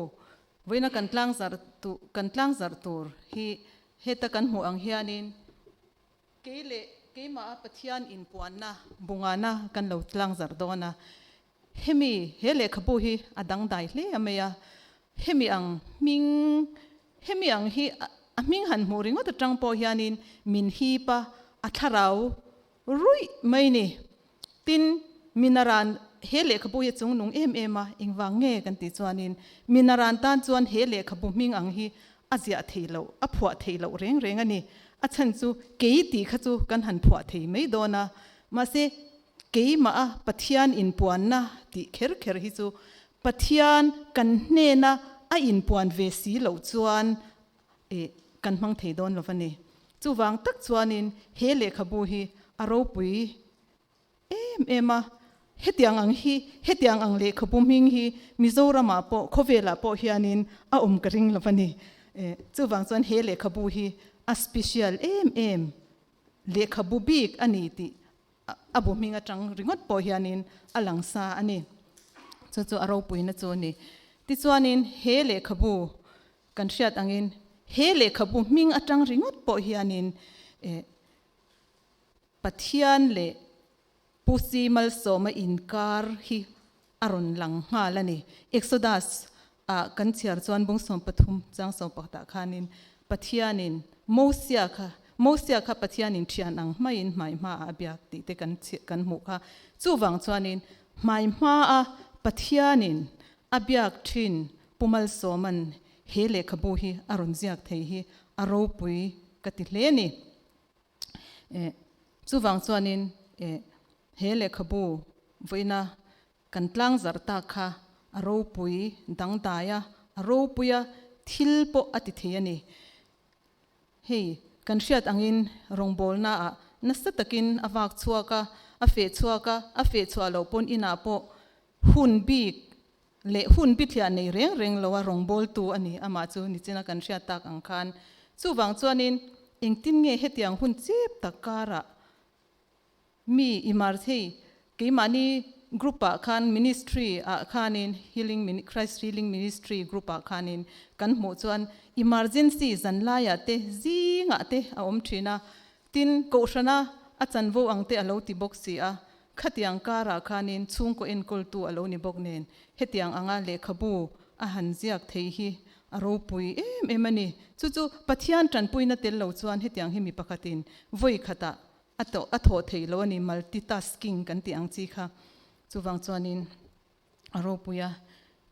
[SPEAKER 1] vawiina kan tlang zarh tu kan tlang zarh tur hi heta kan hmuh ang hianin kei leh keimah a Pathian inpuanna bungahna kan lo tlang zarh dawn a, Hemi, he lehkhabu hi a dangdai hle a mai a, hemi ang hming, hemi ang hi a hming han hmuh ringawt atang pawh hianin min hip a, a thlarau ruih mai ni. Tin, mina ran he lehkhabu hi chung nung em em a, engvang nge kan tih chuanin, mina ran tan chuan he lehkhabu hming ang hi a ziah thei loh, a phuah thei loh reng reng a ni. A chhan chu kei tih kha chu kan han phuah thei mai dawn a, mahse, Keimah a Pathian inpuanna tih kher kher hi chu Pathian kan hnena a inpuan ve si loh chuan eh kan hmang thei dawn lo va ni. Chuvang tak chuanin he lehkhabu hi a ropui em em a. Hetiang ang hi, hetiang ang lehkhabu hming hi Mizoramah pawh, khawvelah pawh hianin a awm ka ring lo va ni. Eh chuvang chuan he lehkhabu hi a special em em, lehkhabu bik a ni tih a bu hming atang ringawt pawh hianin a lang sa a ni. Chu chu a ropuina chu a ni. Tichuanin he lehkhabu kan hriat angin he lehkhabu hming atang ringawt pawh hianin eh Pathian leh Pu Simal Sawma inkar hi a rawn lang nghal a ni. Exodus a kan chhiar chuan Bungsawm pathum chang sawmpakhat ah khanin Pathian in Mosia kha Mosia kha Pathian in thian ang hmaiin hmai hma ah a biak tih te kan chhiah kan hmuh kha. Chuvang chuanin hmai hma a Pathian in a biak thin Pu Malsawman he lehkhabu hi a rawn ziak thei hi a ropui ka ti hle a ni. Eh, chuvang chuanin eh, he lehkhabu vawiina kan tlangzarh tak kha a ropui dangdai a, a ropui a thil pawh a ti thei a ni. Hei kan hriat angin rawngbawlnaah nasa takin a vak chhuak a, a feh chhuak a, a feh chhuah loh pawn inah pawh hun bik leh hun bithliah nei reng reng loa rawngbawltu a ni, amah chu ni china kan hriat tak ang khan. Chuvang chuanin, engtin nge hetiang hun chep tak karah mi imar thei keimahni group ah khan ministry ah khanin healing mini Christ healing ministry group ah khanin kan hmuh chuan emergency zanlaiah te zingah te a awm thin a, Tin, Kohhrana a chanvo ang te a lo ti bawk si a, khatiang karah khanin chhungkaw enkawltu a lo ni bawk nen hetiang anga lehkhabu a han ziak thei hi a ropui em em a ni. Chu chu Pathian tanpuina tel lo chuan hetiang hi mi pakhatin vawi khatah a tawh a thawh thei lo a ni, multitasking kan tih ang chi kha. Chuvang chuanin a ropui a.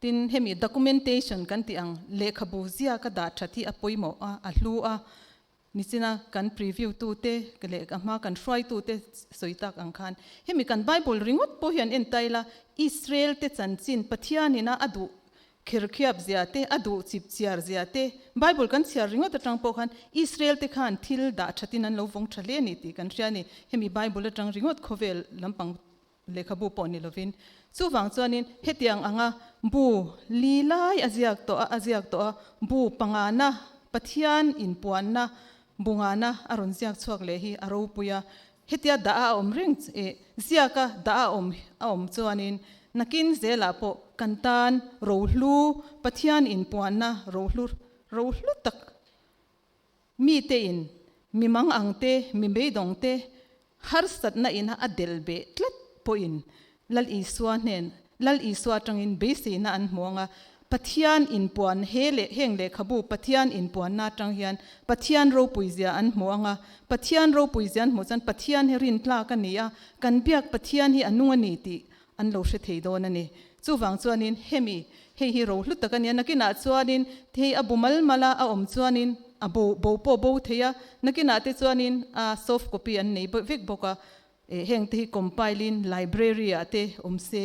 [SPEAKER 1] Tin, hemi documentation kan tih ang, lehkhabu ziaka dah that hi a pawimawh a, a hlu a, Nichina kan preview tu te leh ahma kan hruai tu te sawi tak ang khan, hemi kan Bible ringawt pawh hian en ta ila, Israel te chanchin Pathian in a duh kherkhiap zia te, a duh chip chhiar zia te, Bible kan chhiar ringawt atang pawh khan Israel te khan thil dah that in an lo vawng tha hle a ni tih kan hria a ni. Hemi Bible atang ringawt khawvel lampang. Lehkhabu pawh ni lovin. Chuvang chuanin hetiang anga bu li lai a ziak tawh a, a ziak tawh a, bu pangana, Pathian inpuanna, bu ngana a rawn ziak chhuak leh hi a ropui a. Hetia dah a awm reng, eh, ziaka dah a awm a awm chuanin nakin zelah pawh kan tan rohlu, Pathian inpuanna rohlu, rohlu tak, Mite in mi mang ang te, mi beidawng te harsatna in a del beh tlat pawh in Lal Isua hnen, Lal Isua atang in beiseina an hmuang a. Pathian inpuan, he leh heng lehkhabu Pathian inpuanna atang hian Pathian ropuizia an hmu ang a. Pathian ropuizia an hmu chuan Pathian hi rintlak a ni a, kan biak Pathian hi a nung a ni tih an lo hre thei dawn a ni. Chuvang chuanin, Hemi, hei hi ro hlut tak a nia, nakinah chuanin hei a bu mal mal a, a awm chuanin a bo bo pawh bo thei a, nakinah te chuanin a soft copy an nei vek bawk a, eh heng te hi compile in library ah te awm se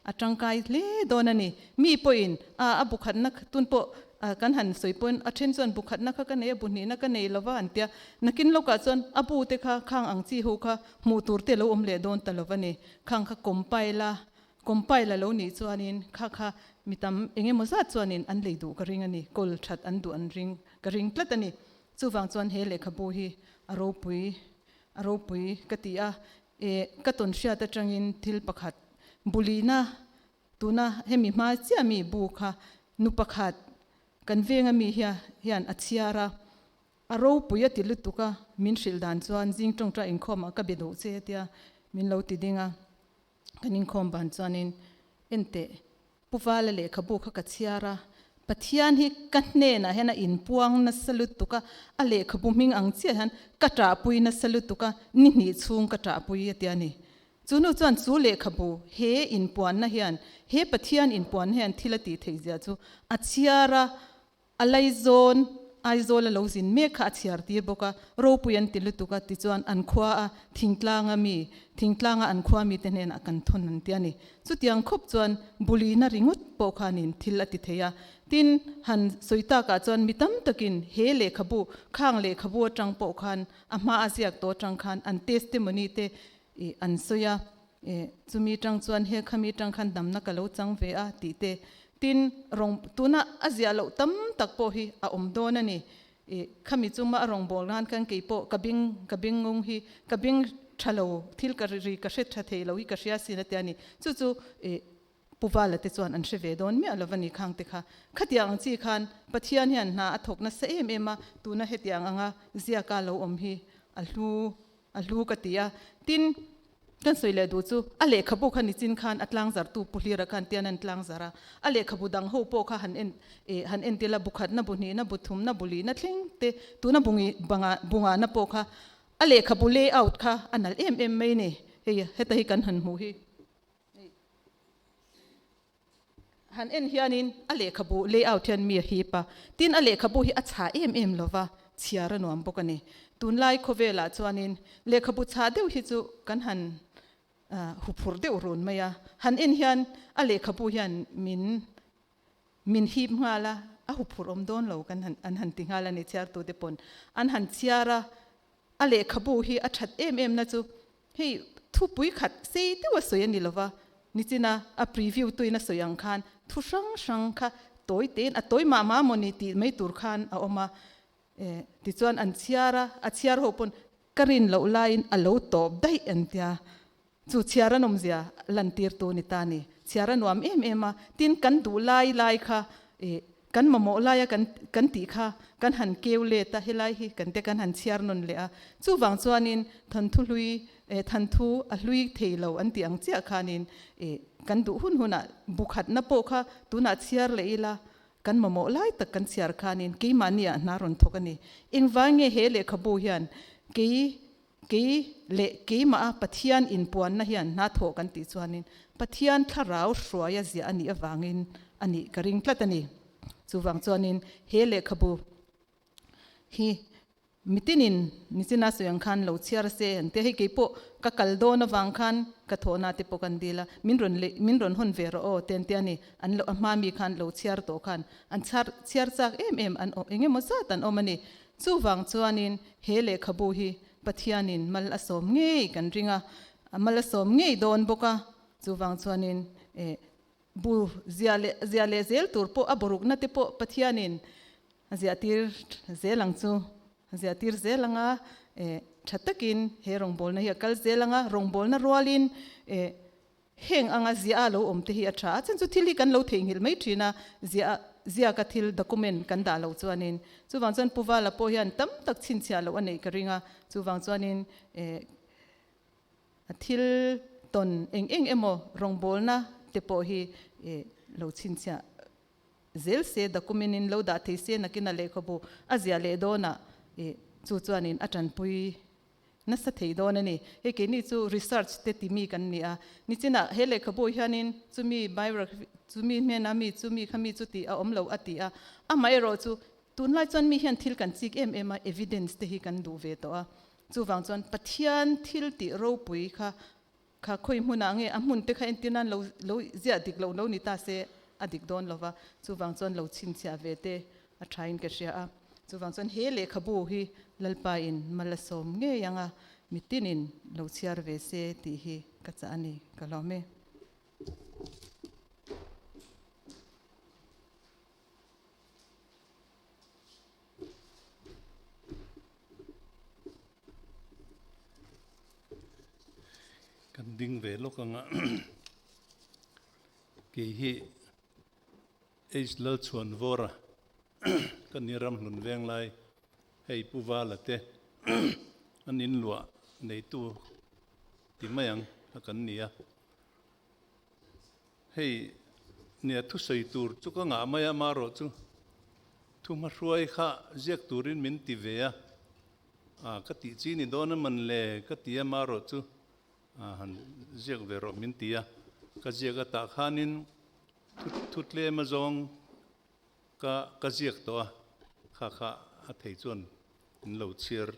[SPEAKER 1] a tangkai hle dawn a ni. Mi pawhin a a bu khatna tun pawh a kan han sawi pawn a then chuan bu khatna kha ka nei a, bu hnihna ka nei lo va an tia, nakin lawkah chuan a bu te kha khang ang chi ho kha hmuh tur te lo awm leh dawn ta lo a ni. Khang kha compile a, compile a lo nih chuanin kha kha mi tam eng emaw zat chuanin an lei duh ka ring a ni, call that an duh an ring ka ring tlat a ni. Chuvang chuan he lehkhabu hi a ropui a ropui ka ti a, eh ka tawn hriat atangin thil pakhat bulina tuna hemi hma chiah mi bu kha nu pakhat kan veng ami hian a chhiar a, A ropui a ti lutuk a, min hrilh dan chuan zing tawngta inkhawmah ka be duh che a tia min lo ti ding a. Kan inkhawm van chuanin enteh Pu Vala lehkhabu kha ka chhiar a, Pathian hi ka hnenah hian a inpuang nasa lutuk a, a lehkhabu hming ang chiah hian ka ṭahpui nasa lutuk a, ni hnih chhung ka ṭahpui a tia a ni. Chu hnu chuan chu lehkhabu he inpuanna hian, he Pathian inpuanna hian thil a tih theih ziah chu a chhiar a, A lei zawn, Aizawl a lo zin mek kha a chhiar tir bawk a, ropui an ti lutuk a, tichuan an khua a Thingtlanga mi, Thingtlanga an khua mite hnenah a kan thawn an ti a ni. Chutiang khawp chuan bulina ringawt pawh khanin thil a ti thei a. Tin, han sawi tak ah chuan mi tam takin he lehkhabu, khang lehkhabu atang pawh khan a hma a ziak tawh atang khan an testimony te ih an sawi a. Eh, chumi tang chuan he khami tang khan damna ka lo chang ve a tih te. Tin, rawn, tuna a ziah loh tam tak pawh hi a awm dawn a ni. Eh, khami chunga a rawngbawlh nan khan kei pawh ka bing, ka bing ngung hi, ka bing tha lo, thil ka ri ri, ka hre tha thei lo hi ka hria sin a tia a ni. Chu chu, eh. Pu Vala te chuan an hre ve dawn miah lo va ni khang te kha. Khatiang ang chi khan Pathian hian hna a thawk nasa em em a, tuna hetiang anga ziaka lo awm hi a hlu a hlu ka ti a. Tin, kan sawi leh duh chu a lehkhabu kha nichin khan a tlangzartu Pu Hlira khan tian a in tlangzar a, a lehkhabu dang ho pawh kha han en eh han entir la, bu khatna, bu hnihna, bu thumna, bu lihna thleng te tuna bu ngi banga bu ngahna pawh kha a lehkhabu layout kha a nalh em em mai ni. Hei heta hi kan han hmuh hi. Han en hianin a lehkhabu layout hian mi a hip a, tin a lehkhabu hi a chhah em em lova chhiar a nuam bawk a ni. Tunlai khawvelah chuanin lehkhabu chhah deuh hi chu kan han huphur deuh run mai a, han en hian a lehkhabu hian min Min hip nghal a, a huphurh awm dawn lo kan han an han ti nghal a ni, chhiartute pawn an han chhiar a, a lehkhabu hi a that em em na chu hei thupui khat sei deuh a sawi a ni lo va, nichina a preview tuin a sawi ang khan thu hrang hrang kha tawi tein a tawi mah mah maw ni tih mai tur khan a awm a, eh tichuan an chhiar a, a chhiar ho pawn ka rin loh laiin a lo tawp daih an tia Chu chhiar a nawmzia lantirtu ni ta ni. Chhiar a nuam em em a, tin kan duh lai lai kha, eh, kan mamawh laia kan kan tih kha kan han keu let a, helai hi kan te kan han chhiar nawn leh a. Chuvang chuanin thanthu hlui, eh, thanthu a hlui thei lo an tih ang chiah khanin, eh, kan duh hun hunah bukhatna pawh kha tunah chhiar leh ila kan mamawh lai tak kan chhiar khanin keimahniah hna rawn thawk a ni. Engvang nge he lehkhabu hian kei Kei leh keimaha Pathian inpuanna hian hna thawh kan tih chuanin Pathian thlarau hruaia ziah a nih avangin a nih ka ring tlat a ni. Chuvang chuanin he lehkhabu hi mitinin Nichina sawi ang khan lo chhiar a se an tia, hei keipawh ka kal dawn avang khan ka thawhna te pawh kan dil a, min rawn leh min rawn hawn ve rawh aw te an tia a ni. An lo a hma mi khan lo chhiar tawh khan an chhiar chhiar chak em em an awm engemaw zat an awm a ni. Chuvang chuanin he lehkhabu hi Pathianin mal a sawm ngei kan ring a, a mal a sawm ngei dawn bawk a, chuvang chuanin eh bu zia leh zia leh zel tur pawh a bawrukna te pawh Pathianin a ziahtir zel ang chu, a ziahtir zel ang a, eh tha takin he rawngbawlna hi a kal zel ang a, rawngbawlna rualin eh Heng anga ziah a lo awm te hi a tha a, chhan chu thil hi kan lo theihnghilh mai thin a, ziah a ziak a thil document kan dah lo chuanin. Chuvang chuan Pu Vala pawh hian tam tak chhinchhiah loh a neih ka ring a, chuvang chuanin eh a thil tawn eng eng emaw rawngbawlna te pawh hi eh lo chhinchhiah zel se, document in lo dah thei se nakin a lehkhabu a ziah leh dawnah eh chu chuanin a tanpui Nasa thei dawn a ni. Hei keini chu research te ti mi kan ni a. Nichinah he lehkhabu hianin chumi biography, chumi hmena mi chu mi kha mi chu tih a awm lo a ti a. Amaherawh chu, tunlai chuan mi hian thil kan chik em em a, evidence te hi kan duh ve tawh a. Chuvang chuan Pathian thil tih ropui kha Kha khawi hmunah nge a hmun te kha entir nan lo lo ziah dik lo lo ni ta se a dik dawn lo va, chuvang chuan lo chhinchhiah ve te a tha in ka hria a, chuvang chuan he lehkhabu hi Lalpa in mala sawm ngei anga mitin in lo chhiar ve se tih hi ka chah a ni ka hlawm e. Kan ding ve lawk ang a, kei hi H Lalchhuanvawra ka ni ramhlun veng lai hei Pu Vala te an inluah neitu ti mai ang a kan ni a. Hei nia thusawi tur chu ka ngah mai a, marawh chu thu hmahruai kha ziak turin min ti ve a, ah ka tih chi ni dawn a man le ka ti a, marawh chu ah han ziak ve rawh min ti a, ka ziak atah khanin thu thu tlem azawng Ka ka ziak tawh a, kha kha a thei chuan in lo chhiar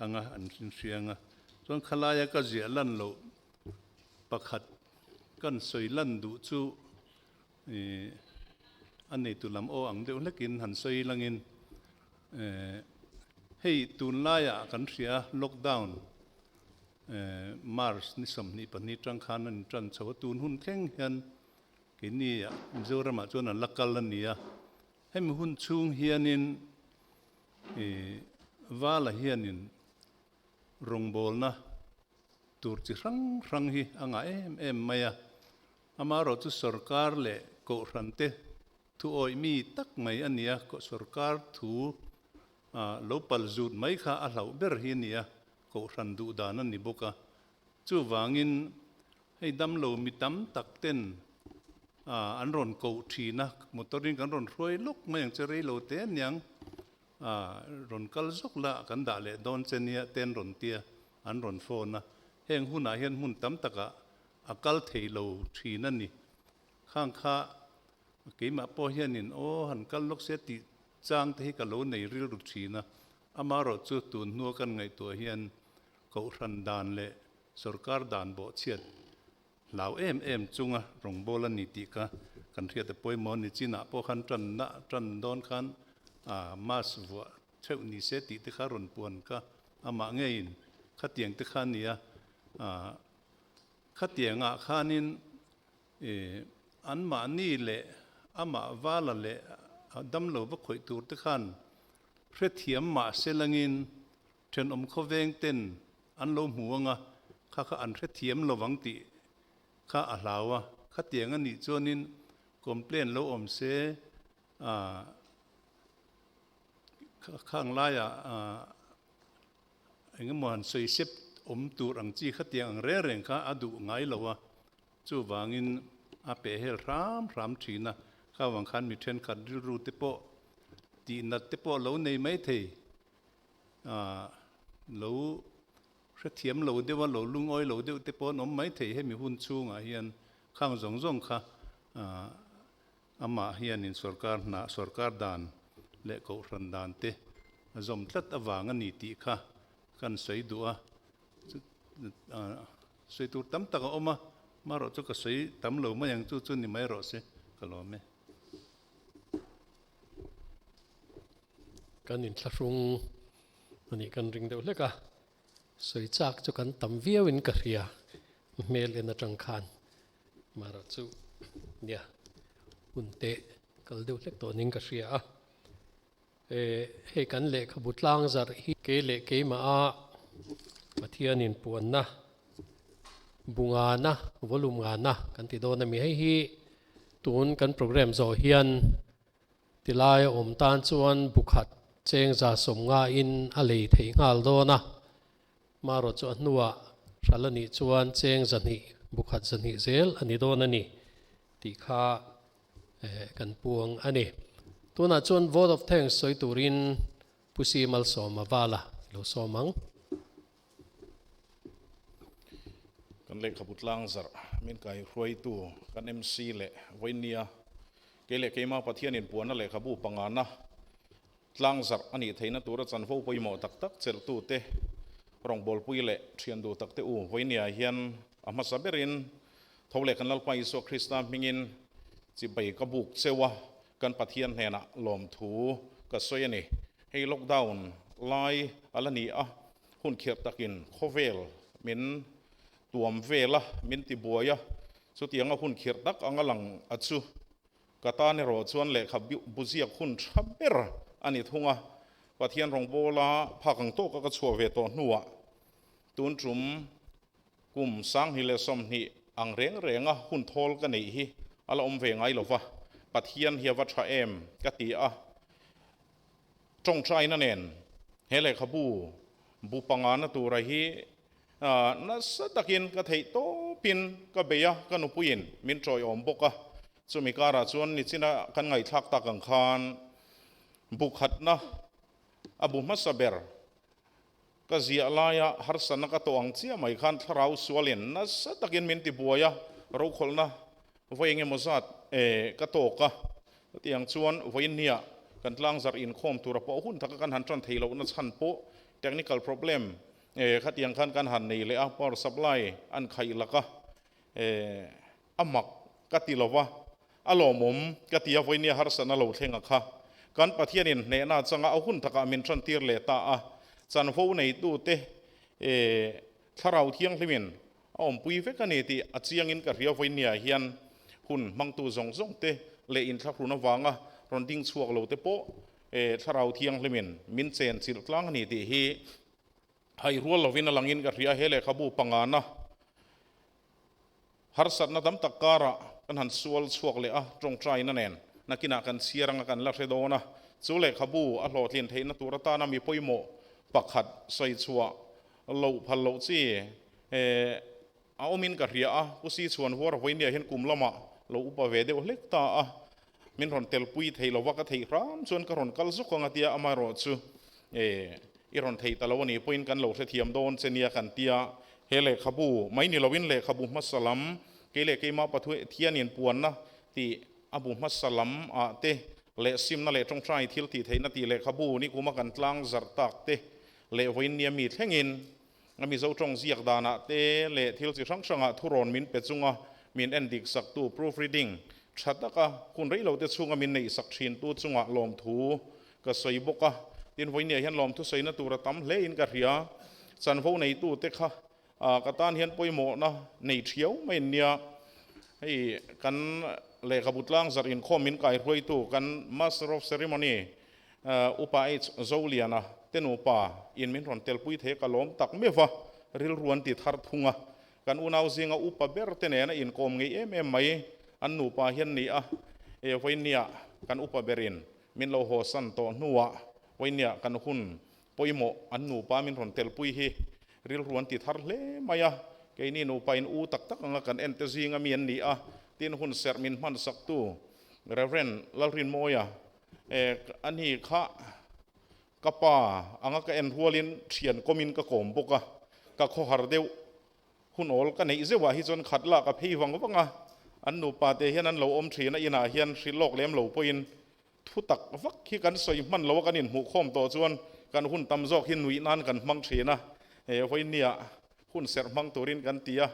[SPEAKER 1] ang a, an hrinhriang a. Chuan khalaia ka ziah lan loh pakhat kan sawi lan duh chu eh a neitu lam aw ang deuh hlekin han sawi langin eh hei tunlaia kan hria lockdown eh March ni sawmhnih pahnih tang khan a ni tan chho a, tun hun thleng hian Keni ah Mizoram ah chuan an la kal a ni a, hemi hun chhung hianin vala hianin rawngbawlna tur chi hrang hrang hi a ngah em em mai a, amaherawh chu sorkar leh kohhran te thu awih mi tak mai a ni a, sorkar thu ah lo pal zut mai kha a hlauh ber hi a ni a, kohhran duh dan a ni bawk a, chuvangin Hei damlo mi tam tak ten ah an rawn koh thin a, motor in kan rawn hruai lawk mai ang che reilo te niang ah rawn kal zawk la kan dah leh dawn che nia te an rawn tia an rawn phone a, heng hunah hian hmun tam takah a kal theilo thin a ni. Khang kha keimah pawh hianin aw han kal lawk sia tih chang te hi ka lo nei rilru thin a, amaherawhchu tun hnua kan ngaihtuah hian Kohhran dan leh sawrkar dan bawhchhiat hlau em em chunga rawngbâwl a ni tih kha kan hriat a pawimawh a ni. Chinah pawh khan ṭanna ṭan dawn khan mask vuah theuh ni se tih te kha rawn puan ka amah ngeiin khatiang te kha a ni a. Khatiangah khanin anmahni leh amah vala leh damlo va khawih tûrte khan hrethiam mahse langin Thenawm khawveng ten an lo hmu anga kha kha an hrethiam lo vang tih kha a hlau a, khatiang a nih chuanin complain lo awm se ah kha ang laia ah engemaw han sawi sep awm tur ang chi khatiang ang reng reng kha a duh ngai lo a, chuvangin a pehhel hram hram thin a, kha vang khan mi thenkhat rilru te pawh tihnat te pawh lo nei mai thei lo hrethiam lo deuh a, lo lungawi lo deuh te pawh an awm mai thei hemi hun chhungah hian khang zawng zawng kha amah hianin sorkar hnah, sorkar dan leh kohhran dan te a zawm tlat avang a ni tih kha kan sawi duh a, sawi tur tam tak a awm a, marawh chu ka sawi tam lo mai ang chu chu ni mai rawh se ka lawm e. Kan inthlahrung a nih kan ring deuh hlek a, sawi chak chu kan tam viau in ka hria hmel en atang khan Mara chu nia hun teh kal deuh hlek tawh ning ka hria a, hei kan lehkhabu tlang zarh hi kei leh keimah a Pathian in puan na bu ngan a volume ngan a kan ti dawn a mi hei hi tun kan program zawh hian Ti lai a awm tan chuan bu khat cheng za sawm ngaiin a lei theih nghal dawn a. Maro chu a hnuah hra la nih chuan cheng za hnih, bu khat za hnih zel a ni dawn a ni tih kha kan puang a ni. Tunah chuan Vote of Thanks sawi turin Pu Simal Sawma Vala i lo sawm ang. Kan lehkhabu tlang zarh min kaihruaitu kan MC leh vawinnia kei leh keimah Pathianin puana lehkhabu pangana tlang zarh a nih theihna tura chanvo pawimawh tak tak chelhtute rawngbawlpui leh thian duh takte u vawinnia hian a hmasa berin tho leh kan Lalpa Isua Krista hmingin chibai ka buk cheu a, Kan Pathian hnenah lawmthu ka sawi a ni. Hei lockdown lai a la ni a, hun khirh takin khawvel min tuam vel a, min ti buai a. Chutianga hun khirh tak anga lang a chu. Ka tan erawh chuan lehkha buziak hun tha ber a ni thung a. Pathian rawngbawla phak ang tawka ka chhuah ve tawh hnuah tun tum Kum, Sanghni leh Sawmhni ang reng renga hun thawl ka neih hi a la awm ve ngai lo va, Pathian hi a va tha em ka ti a. Tawngtaina nen he lehkhabu bu panga na tura hi nasa takin ka theih tawpin ka bei a, ka nupuiin min tawihawm bawk a. Chumi karah chuan nichina kan ngaihthlak tak ang khan bu khatna a bu hmasa ber. Ka ziah laia harsatna ka tawh ang chiah mai khan thlarau sualin nasa takin min ti buai a, rokhawlhna vai eng emaw zat ka tawk a. Chutiang chuan vainhnia kan tlangzarh inkhawm tura pawh hun taka kan han tan thei lohna chhan pawh technical problem khatiang khan kan han nei leh a, power supply an khaih laka. A mak ka ti lo va, a lawmawm ka ti a vawinia harsatna lo thlenga kha kan Pathian in hnehna changa a hun takah min ṭantir leh ta a, chanvo neitute e Thlarau Thianghlim in a awmpui vek a ni tih a chiang in ka hria vawinia hian hun hmangtu zawng zawng te leh in thlahrun avanga rawn ding chhuak lo te pawh e Thlarau Thianghlim in min chen chilh tlang a ni tih hi hai rual lovin a lang in ka hria he lehkhabu pangana Harsatna tam tak karah kan han sual chhuak leh a, tawngtaina nen nakinah kan chhiar anga kan la hre dawn a. Chu lehkhabu a hlawhtlin theihna tur atana mi pawimawh pakhat sawi chhuah loh phal loh chi a awmin ka hria a, Pu Sichuan Huaravuainia hian kum lamah lo upa ve deuh hlek ta a, Min rawn telpui theih lo va, ka theih hram chuan ka rawn kal zawk ang a tia amaherawh chu eh i rawn theih ta lo a nih pawhin kan lo hrethiam dawn che nia kan ti a. He lehkhabu mai ni loin lehkhabu hmasa lam keileh keimah Pathianin puanna tih a bu hmasa lam ah te leh simna leh tawngtai thil tihtheihna tih lehkhabu ni kuma kan tlang zarh tak te leh vawiin nia mi thlengin a mizo tawng ziak danah te leh thil chi hrang hrangah thu rawn min pe chunga min en dik saktu, proofreading, tha tak a, hun rei lo te chhunga min neih sak thin tu chungah lawmthu ka sawi bawk a, tin vawinia hian lawmthu saina tura tam hle in ka hria, chanvo nei tu te kha a ka tan hian pawimawhna nei thiau mai an nia, hei kan lehkhabu tlang zarh inkhawm min kai hruaitu kan Master of Ceremony Upa H. Zoliana te nupa in min rawn tel pui thei ka lawm tak meuh va, rilru an ti thar thung a, kan unau zinga upa ber te nen a inkawm ngei em em mai, an nupa hian ni a, e vawinia kan upa ber in min lo haw san tawh hnuah vawinia kan hun pawimawh an nupa min rawn tel pui hi rilru an ti thar hle mai a, keini nupa in u tak tak anga kan en te zinga mi an ni a, tin hun serh min hmansak tu Rev. Lalrinmawia Eh, a ni kha. Ka pa anga ka en rualin thian kawmin ka kawm bawk a, ka khawhar deuh hun awl ka neih zeuhah hi chuan khat lak a phei vang vang a, an nupa te hian an lo awm thin a, inah hian hrilh lawk lem lo pawhin thu tak vak hi kan sawi hman lo a, kan inhmuh khawm tawh chuan kan hun tam zawk hi nuih nan kan hmang thin a, eh, vawinia Hun serh hmang turin kan ti a,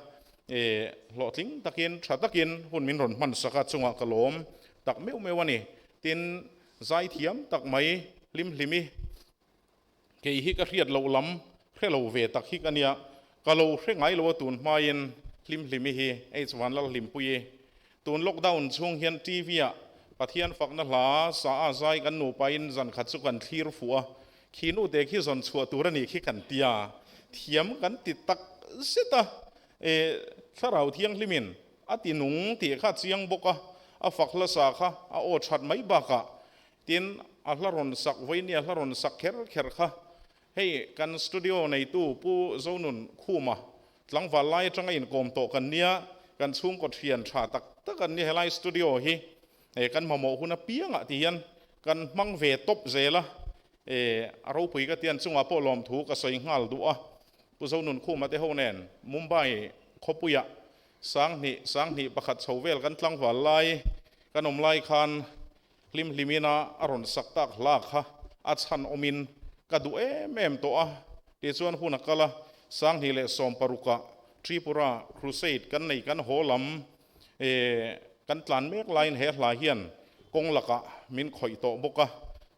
[SPEAKER 1] e hlawhtling takin tha takin hun min rawn hmansak a, chungah ka lawm tak meuh meuh a ni. Tin, zai thiam tak mai hlimhlim i kei hi ka hriat loh lam hre lo ve tak hik a nia, ka lo hre ngai lo a tun hmain hlimhlim i hi H. Vanlalhlimpuii Tun lockdown chhung hian TV ah Pathian fakna hla sa a zai kan nupa in zan khat chu kan thlir fuh a, khinu te khi zawn chhuah tur a ni khi kan ti a, thiam kan ti tak zet a. E, Thlarau Thianghlim in a ti nung tih kha a chiang bawk a, a fak hla sa kha a aw that mai bak ah. Tin, a hla rawn sak vawi nia, hla rawn sak kher kher kha Hei kan studio neitu Pu Zonun Khuma tlangval lai atanga inkawm tawh kan nia, kan chhungkaw thian tha tak tak an nia, helai studio hi kan mamawh hun apiangah ti hian kan hmang ve tawp zel a, a ropui ka tian chungah pawh lawmthu ka sawi nghal duh a, Pu Zonun Khuma te ho nen Mumbai khawpuiah sanghnih sanghnih pakhat chho vel kan tlangval lai kan awm lai khan Hlim hlim in a a rawn sak tak hla kha a chhan awm in ka duh em em tawh a, tih chuan hun a kal a, Sanghnih leh Sawmparuk ah Tripura Crusade kan nei kan haw lam eh kan tlan mek lai in he hla hian kawng lak ah min khawih tawh bawk a,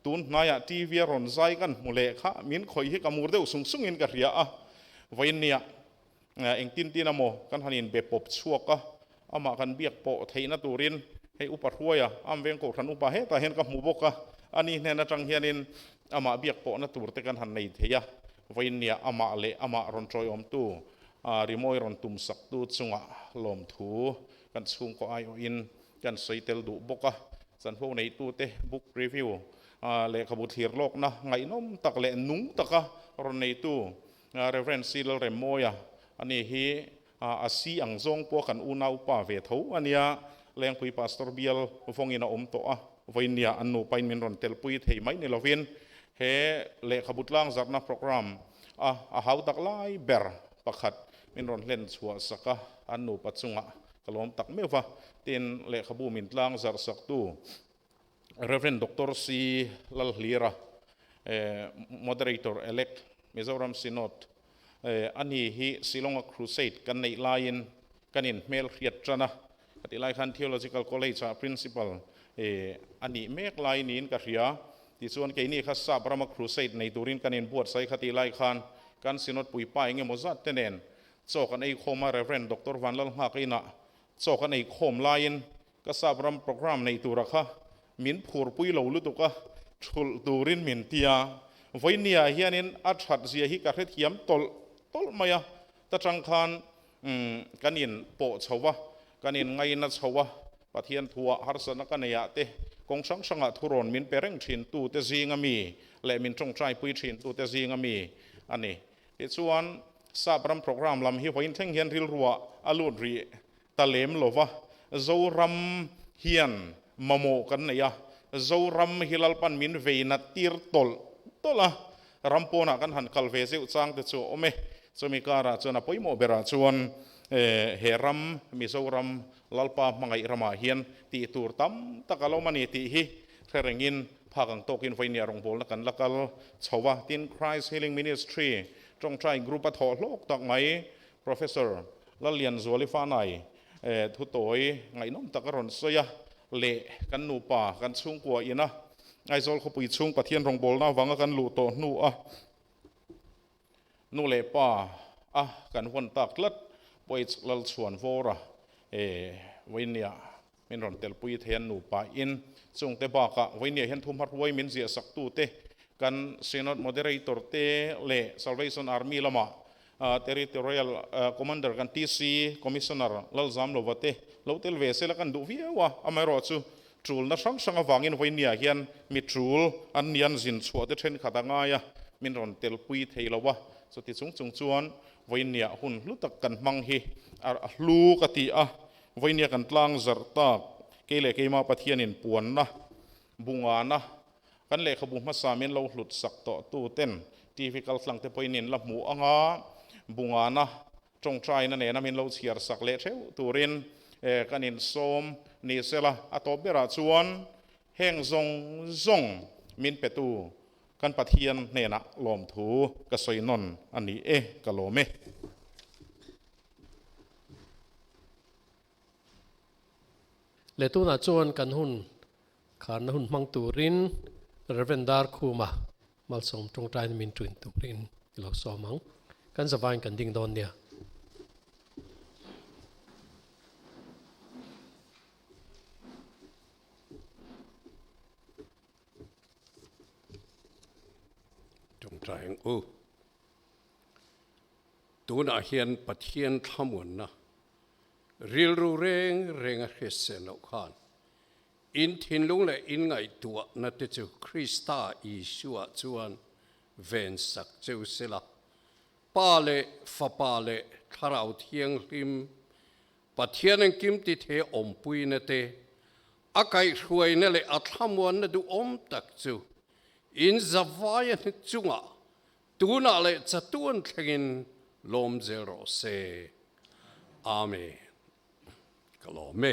[SPEAKER 1] tun hnai ah TV a rawn zai kan hmu leh kha min khawih hi ka mur deuh sung sung in ka hria a, vawiin nia Eng tin tin a maw? Kan han inbe pawp chhuak a, amah kan biak pawh theihna turin hei upa hruaia am veng kohhran upa hetah hian ka hmu bawk a, ani hnen atang hianin amah biak pawhna tur te kan han nei thei a, vawinia amah leh amah rawn tawihawmtu rimawi rawn tum saktu chunga lawmthu kan chhungkaw aiawhin kan sawi tel duh bawk a, chanho neitute book review lehkhabu thlir lawkna ngaihnawm tak leh nung taka rawn neitu Rev. Sri Lalrem Mawia a nih hi a si ang zawng pawh kan una upa ve tho a nia. Lengpui Pastor Bial vawngin a awm tawh a, vawinia an nu pain min rawn telpui thei mai ni lovin he lehkhabu tlangzarhna programme a a hau tak lai ber pakhat min rawn hlen chhuah sak a, an nupa chungah ka lawm tak meuh a, tin lehkhabu min tlangzarh saktu Rev. Doctor Sri Lalhlira, Moderator Elect, Mizoram Synod, a ni hi Shillonga Crusade kan neih laiin kan in hmel hriat tan a, ka tih lai khan Theological College ah Principal a nih mek lai niin ka hria, tichuan keini kha sap rama Crusade nei turin kan in buatsaih kha tih lai khan kan Synod puipa eng emaw zat te nen chawk an ei khawm a, Rev. Doctor Vanlal Nghak Inah chawk an ei khawm laiin Ka sap ram programme neih tura kha min phur pui lo lutuk a, chhulh turin min ti a, Vawiniah hianin a that zia hi ka hrethiam tawlh tawlh mai a, ta tang khan umm kan in pawh chho va, kan in ngai na chho a, Pathian thua harsatna ka nei ah te, kawng hrang hrang ah thu rawn min pe reng thin tu te zing a mi leh min tawngtai pui thin tu te zing a mi a ni. Tichuan sap ram programme lam hi vawiin thleng hian rilruah a lut rih ta lem lo va, Zoram hian mamawh kan neih a, Zoram hi Lalpan min veinat tir tawlh tawlh a, ram pawnah kan han kal ve zeuh chang te chu a awm e, chumi karah chuan a pawimawh berah chuan he ram Mizoram Lalpa hmangaih ramah hian tih tur tam tak a lo awm a ni tih hi hre rengin phak ang tawkin vawinia rawngbawlna kan la kal chho va, tin Christ Healing Ministry tawngtai group a thawh hlawk tak mai Professor Lalianzuali Fanai thutoy ngaihnawm tak a rawn sawi a, leh kan nupa kan chhungkua ina Aizawl khawpui chhung Pathian rawngbawlna avanga kan luh tawh hnu a nu leh pa a kan vawn tak tlat pawh i lal chhuan vawra vawin nia. Min rawn tel pui thei a nupa in. Chungte bakah Vawihniah hian thu hma hruai min ziah saktu te, kan Synod Moderator te leh Salvation Army lama Territorial Commander kan TC Commissioner Lalzam Lova te lo tel ve sela kan duh viau a, amaherawhah chu tulna hrang hrang avangin Vawihniah hian mi tul an lian zin chhuah te thenkhat a ngai a min rawn tel pui thei lo a. Chuti chung chung chuan Vawihniah hun hlu tak kan hmang hi a hlu ka ti a, Vawinia kan tlang zarh tak kei leh keimah Pathianin puanna, bungana, kan lehkhabu hmasa min lo hlut sak tawh tu ten, TV kal tlang te pawhin in la hmuh anga bungana, tawngtaina nena min lo chhiar sak leh theuh turin kan in sawm ni se la, a tawp berah chuan heng zawng zawng min petu kan Pathian hnenah lawmthu ka sawi nawn a ni e, ka lawm e. Leh tunah chuan kan hun kharna hun hmang turin Rev. Darkhuma malsawm tawngtaina min ṭuin turin i lo sawm ang. Kan zavaiin kan ding dawn nia. Tawngtai ang u. Tunah hian Pathian thlamuanna rilru reng reng a hriatseh loh khan in thinlung leh in ngaihtuahna te chu Krista Isua chuan vensak cheu sela, Pa leh Fapa leh Thlarau Thianghlim, Pathian an kimtithe awmpuina te, a kaihhruaina leh a thlamuanna duhawm tak chu in zavai a hnik chungah Tunah leh chatuan thlengin lawmzel rawh se. Amen. Ka lawm e.